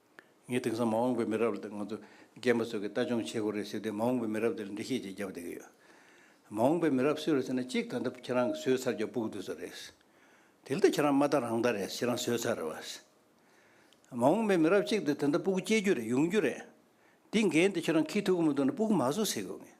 ངས་དེང་སང་མ་འོངས་པའི་མི་རབས་ལ་དེ་ང་ཚོ་རྒན་པ་ཚོས་ཀྱི་ལྟ་སྦྱོང་བྱེད་དགོས་རེད་ཟེར་དུས་མ་འོངས་པའི་མི་རབས་དེ་ལ་འདྲི་ཤེས་ཅིག་བརྒྱབ་བསྡད་ཀྱི་ཡོད། མ་འོངས་པའི་མི་རབས་སུ་རེད་ཟེར་ན་གཅིག་ད་ལྟ་ཁྱེད་རང་གི་ཟོས་ཚར་རྒྱབ་སྤུག་འདུག་ས་རེད། དེ་ལྟ་ཁྱེད་རང་མ་ལྟ་རང་ལྟ་རེད་ཁྱེད་རང་ཟོས་ཚར་རེད་བ། མ་འོངས་པའི་མི་རབས་གཅིག་དེ་ད་ལྟ་སྤུག་སྐྱེ་རྒྱུ་རེད་ཡོང་རྒྱུ་རེད། དེ་འགན་དེ་ཁྱེད་རང་ཁྱི་ཐུག་གི་མི་འདུག་ན་སྤུག་མ་བཟོ་ཟེར་དགོས་ངེས།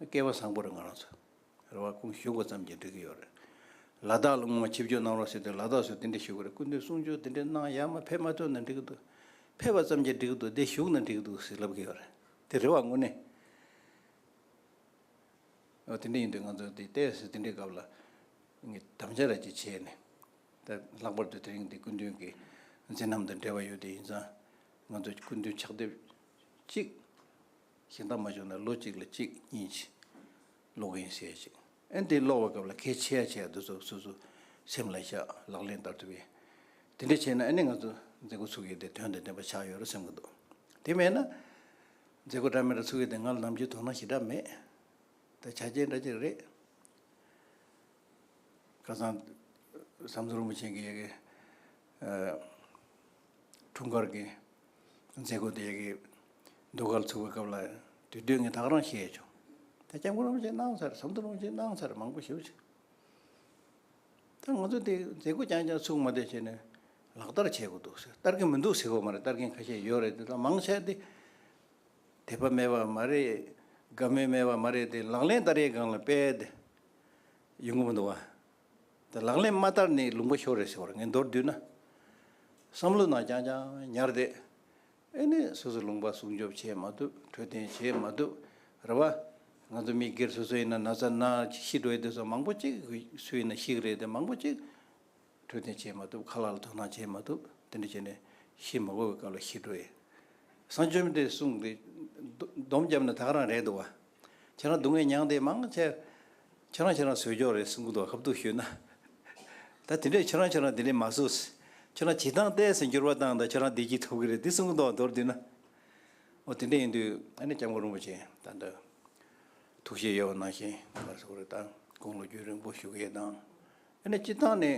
སྐལ་བ་བཟང་པོ་རེད་ང་རང་ཚོ་རེ་བ་ཀུན་ཞུ་འགོ་བརྩམས་ཀྱིན་འགྲོ་གི་ཡོད་རེད། ལ་དྭགས་ལ་སྔོན་མ་ཆིབས་བསྒྱུར་གནང་རོགས་ཟེར་དུས་ལ་དྭགས་སུ་དེ་འདྲས་ཞུ་གི་རེད་སྐུ་མདུན་གསུང་ཆོས་དེ་འདྲས་གནང་ཡག་མ་ཕེབས་མ་ཐོན་ན་འགྲིག་གི་འདུག་ཕེབས་པ་ཙམ་གྱིས་འགྲིག་གི་འདུག་བདེ་བཞུགས་ན་འགྲིག་གི་འདུག་ཟེར་ལབ་གི་ཡོད་རེད་དེ་རེ་བ་དངོས་གནས། ཨོ་དེ་འདྲས་ཡིན་དུས་ང་ཚོ་དེ་ལྟས་ཟེར་དེ་འདྲས་སྐབས་ལ་ངས་དམ་བཅའ་ར་ཅིག་བྱས་ནས་ད་ལྷག་པར་དུ་དེ་རིང་འདི་སྐུ་མདུན་གྱི་མཚན་རྣམས་དང་འབྲེལ་བ་ཡོད་དུས་ཡིན་ཙང་ང་ཚོ་སྐུ་མདུན་ཕྱག་དེབ་ཅིག་ཞེ་འདང་མ་བྱུང་ན་ལོ་གཅིག་ལ་གཅིག་གཉིས་ཀྱིས་ཀློག་གིན་བཤད་ཅིང། ཨན་དེ་ཀློག་པའི་སྐབས་ལ་གལ་ཆེ་ཡ་ཆེ་ཡ་འདུག་ཚོ་སོ་སོའི་སེམས་ལ་བཞག་ལག་ལེན་བསྟར་ཐུབ་ཡིན། དེ་འདྲ་བྱས་ན་ཨ་ནི་ང་ཚོ་མཛད་སྒོ་ཚུགས་ཡས་དེ་དོན་དང་ལྡན་པ་ཆགས་ཡོད་རེད་སེམས་གི་འདུག་དེ་མེད་ན། མཛད་སྒོ་འདྲ་མི་འདྲ་ཚུགས་ཡས་དེ་ང་ལ་ནམ་རྒྱུན་དོ་སྣང་ཞེ་དྲག་མེད། ད་ཆ་རྗེས་འདྲ་གཅིག་རེད། ཁ་སང་བསམ་ཚུལ་རིན་པོ་ཆེན་གྱི་ཡི་གེ། འཁྲུངས་སྐར་གྱི་མཛད་སྒོ་དེ་གའི་ཟློས་གར་ཚུགས་པའི་སྐབས་ལ་དུས་སྟོན་གྱི་ཐག་རིང་བཤད་བྱུང། དེ་སྐྱབས་མགོན་རིན་པོ་ཆེ་གནང་ཚར་ཟམ་གདོང་རིན་པོ་ཆེ་གནང་ཚར་མང་པོ་ཞུ་བྱུང། ད་ང་ཚོ་དེ་མཛད་སྒོ་རྐྱང་རྐྱང་ཚུགས་མ་བསྡད་བྱས་ནས་ལག་བསྟར་བྱེད་དགོས་འདུག་ཟེར་བསྟར་གྱི་མི་འདུག་ཟེར་བ་མ་རེད་བསྟར་མཁན་ཁ་ཤས་ཡོད་རེད་དེ་དག་མང་ཆེ་དེ་དད་པ་མེད་པ་མ་རེད་དགའ་མོས་མེད་པ་མ་རེད་དེ་ལག་ལེན་བསྟར་ཡས་སྒང་ལ་སྤེལ་དེ་ཡོང་གི་མི་འདུག་བ། དེ་ལག་ལེན་མ་བསྟར་ནས་ལུང་པ་ཤོར་རེད་ཟེར་བར་ངས་མདོར་བསྡུས་ན། བསམ་བློ་ནང་རྐྱང་རྐྱང་ཉར་བསྡད། ཨེ་ནས་སོ་སོ་ལུང་པ་སྲུང་སྐྱོབ་བྱས་མ་ཐུབ་འཕྲོད་བསྟེན་བྱས་མ་ཐུབ་རེད་བ། ང་ཚོ་མི་སྒེར་སོ་སོ་ཡིན་ན་ན་ཚ་ན་ཤི་འགྲོ་ཡི་འདུག་ས་མང་པོ་གཅིག་སུ་ཡིན་ན་ཤིག་རེད་དེ་མང་པོ་གཅིག་འཕྲོད་བསྟེན་བྱས་མ་ཐུབ་ཁ་ལག་ལ་དོ་སྣང་བྱས་མ་ཐུབ་དེ་འདྲ་བྱས་ནས་ཤི་མ་དགོས་པའི་སྐབས་ལ་ཤི་འགྲོ་ཡི། བསང་ཆུ་མེ་དེ་བསྲུངས་ཏེ་སྡོམ་བརྒྱབ་ན་ད་ག་རང་རེད་འདུག་བ། ཁྱེད་རང་སྡུག་བསྔལ་མྱངས་དེ་མང་ཆེ། ཁྱེད་རང་ཁྱེད་རང་བཟོས་ཀྱོག་རེད་གསུང་གི་འདུག་གབ་གཏུག་ཞུས་ན། ད་དེ་འདྲས་ཁྱེད་རང་ཁྱེད་རང་དེ་འདྲས་མ་བཟོས། ཁྱེད་རང་བྱེད་སྟངས་བལྟས་ཟིན་འགྱུར་བ་བཏང་ད་ཁྱེད་རང་བདེ་སྐྱིད་ཐོབ་གི་རེད་འདི་གསུང་གི་འདུག་མདོར་བསྡུས་ན། འོ་དེ་འདྲས་ཡིན་དུས་ཨ་ནེ་སྐྱབས་མགོན་རིན་པོ་ཆེ་ད་ལྟ། ཐུགས་བཞེད་ཡོད་པ་ནང་བཞིན་ང་ལ་ཟུག་རེ་ད་དགོངས་ལོ་རྒྱུས་རིང་པོ་ཞུ་གི་ཡོད་དང། ཨ་ནེ་སྤྱི་བཏང་ནས་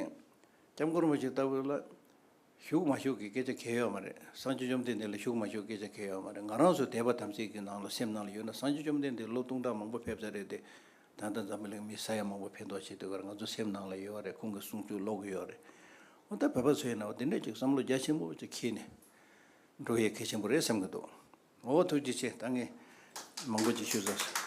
སྐྱབས་མགོན་རིན་པོ་ཆེ་ལྟ་བུ་ལ། ཞུགས་མ་ཞུགས་ཀྱི་སྐད་ཆ་གལ་ཡོད་མ་རེད། སངས་རྒྱས་བཅོམ་ལྡན་འདས་ལ་ཞུགས་མ་ཞུགས་སྐད་ཆ་གལ་ཡོད་མ་རེད། ང་རང་ཚོ་དད་པ་དམ་ཚིག་གི་ནང་ལ་སེམས་ནང་ལ་ཡོད་ན་སངས་རྒྱས་བཅོམ་ལྡན་འདས་ལོ་སྟོང་ཕྲག་མང་པོ་ཕེབས་ས་རེད་དེ། ད་ལྟ་འཛམ་བུ་གླིང་མི་ས་ཡ་མང་པོ་ཕན་ཐོག་བྱེད་འདོད་ཀར་ང་ཚོ་སེམས་ནང་ལ་ཡོད་རེད་ཁོང་གི་གསུང་ཆོས་ཀློག་གི་ཡོད་རེད། འོ་ད་བོད་པ་ཚོའི་ནང་འདི་འདྲའི་ཅིག་བསམ་བློ་རྒྱ་ཆེན་པོ་ཅིག་འཁྱིལ་ནས་འགྲོ་ཡས་གལ་ཆེན་པོ་རེད་བསམ་གི་འདུག་འོ་ཐུགས་རྗེ་ཆེ་ད་ངས་མང་པོ་ཅིག་ཞུས་ཚར།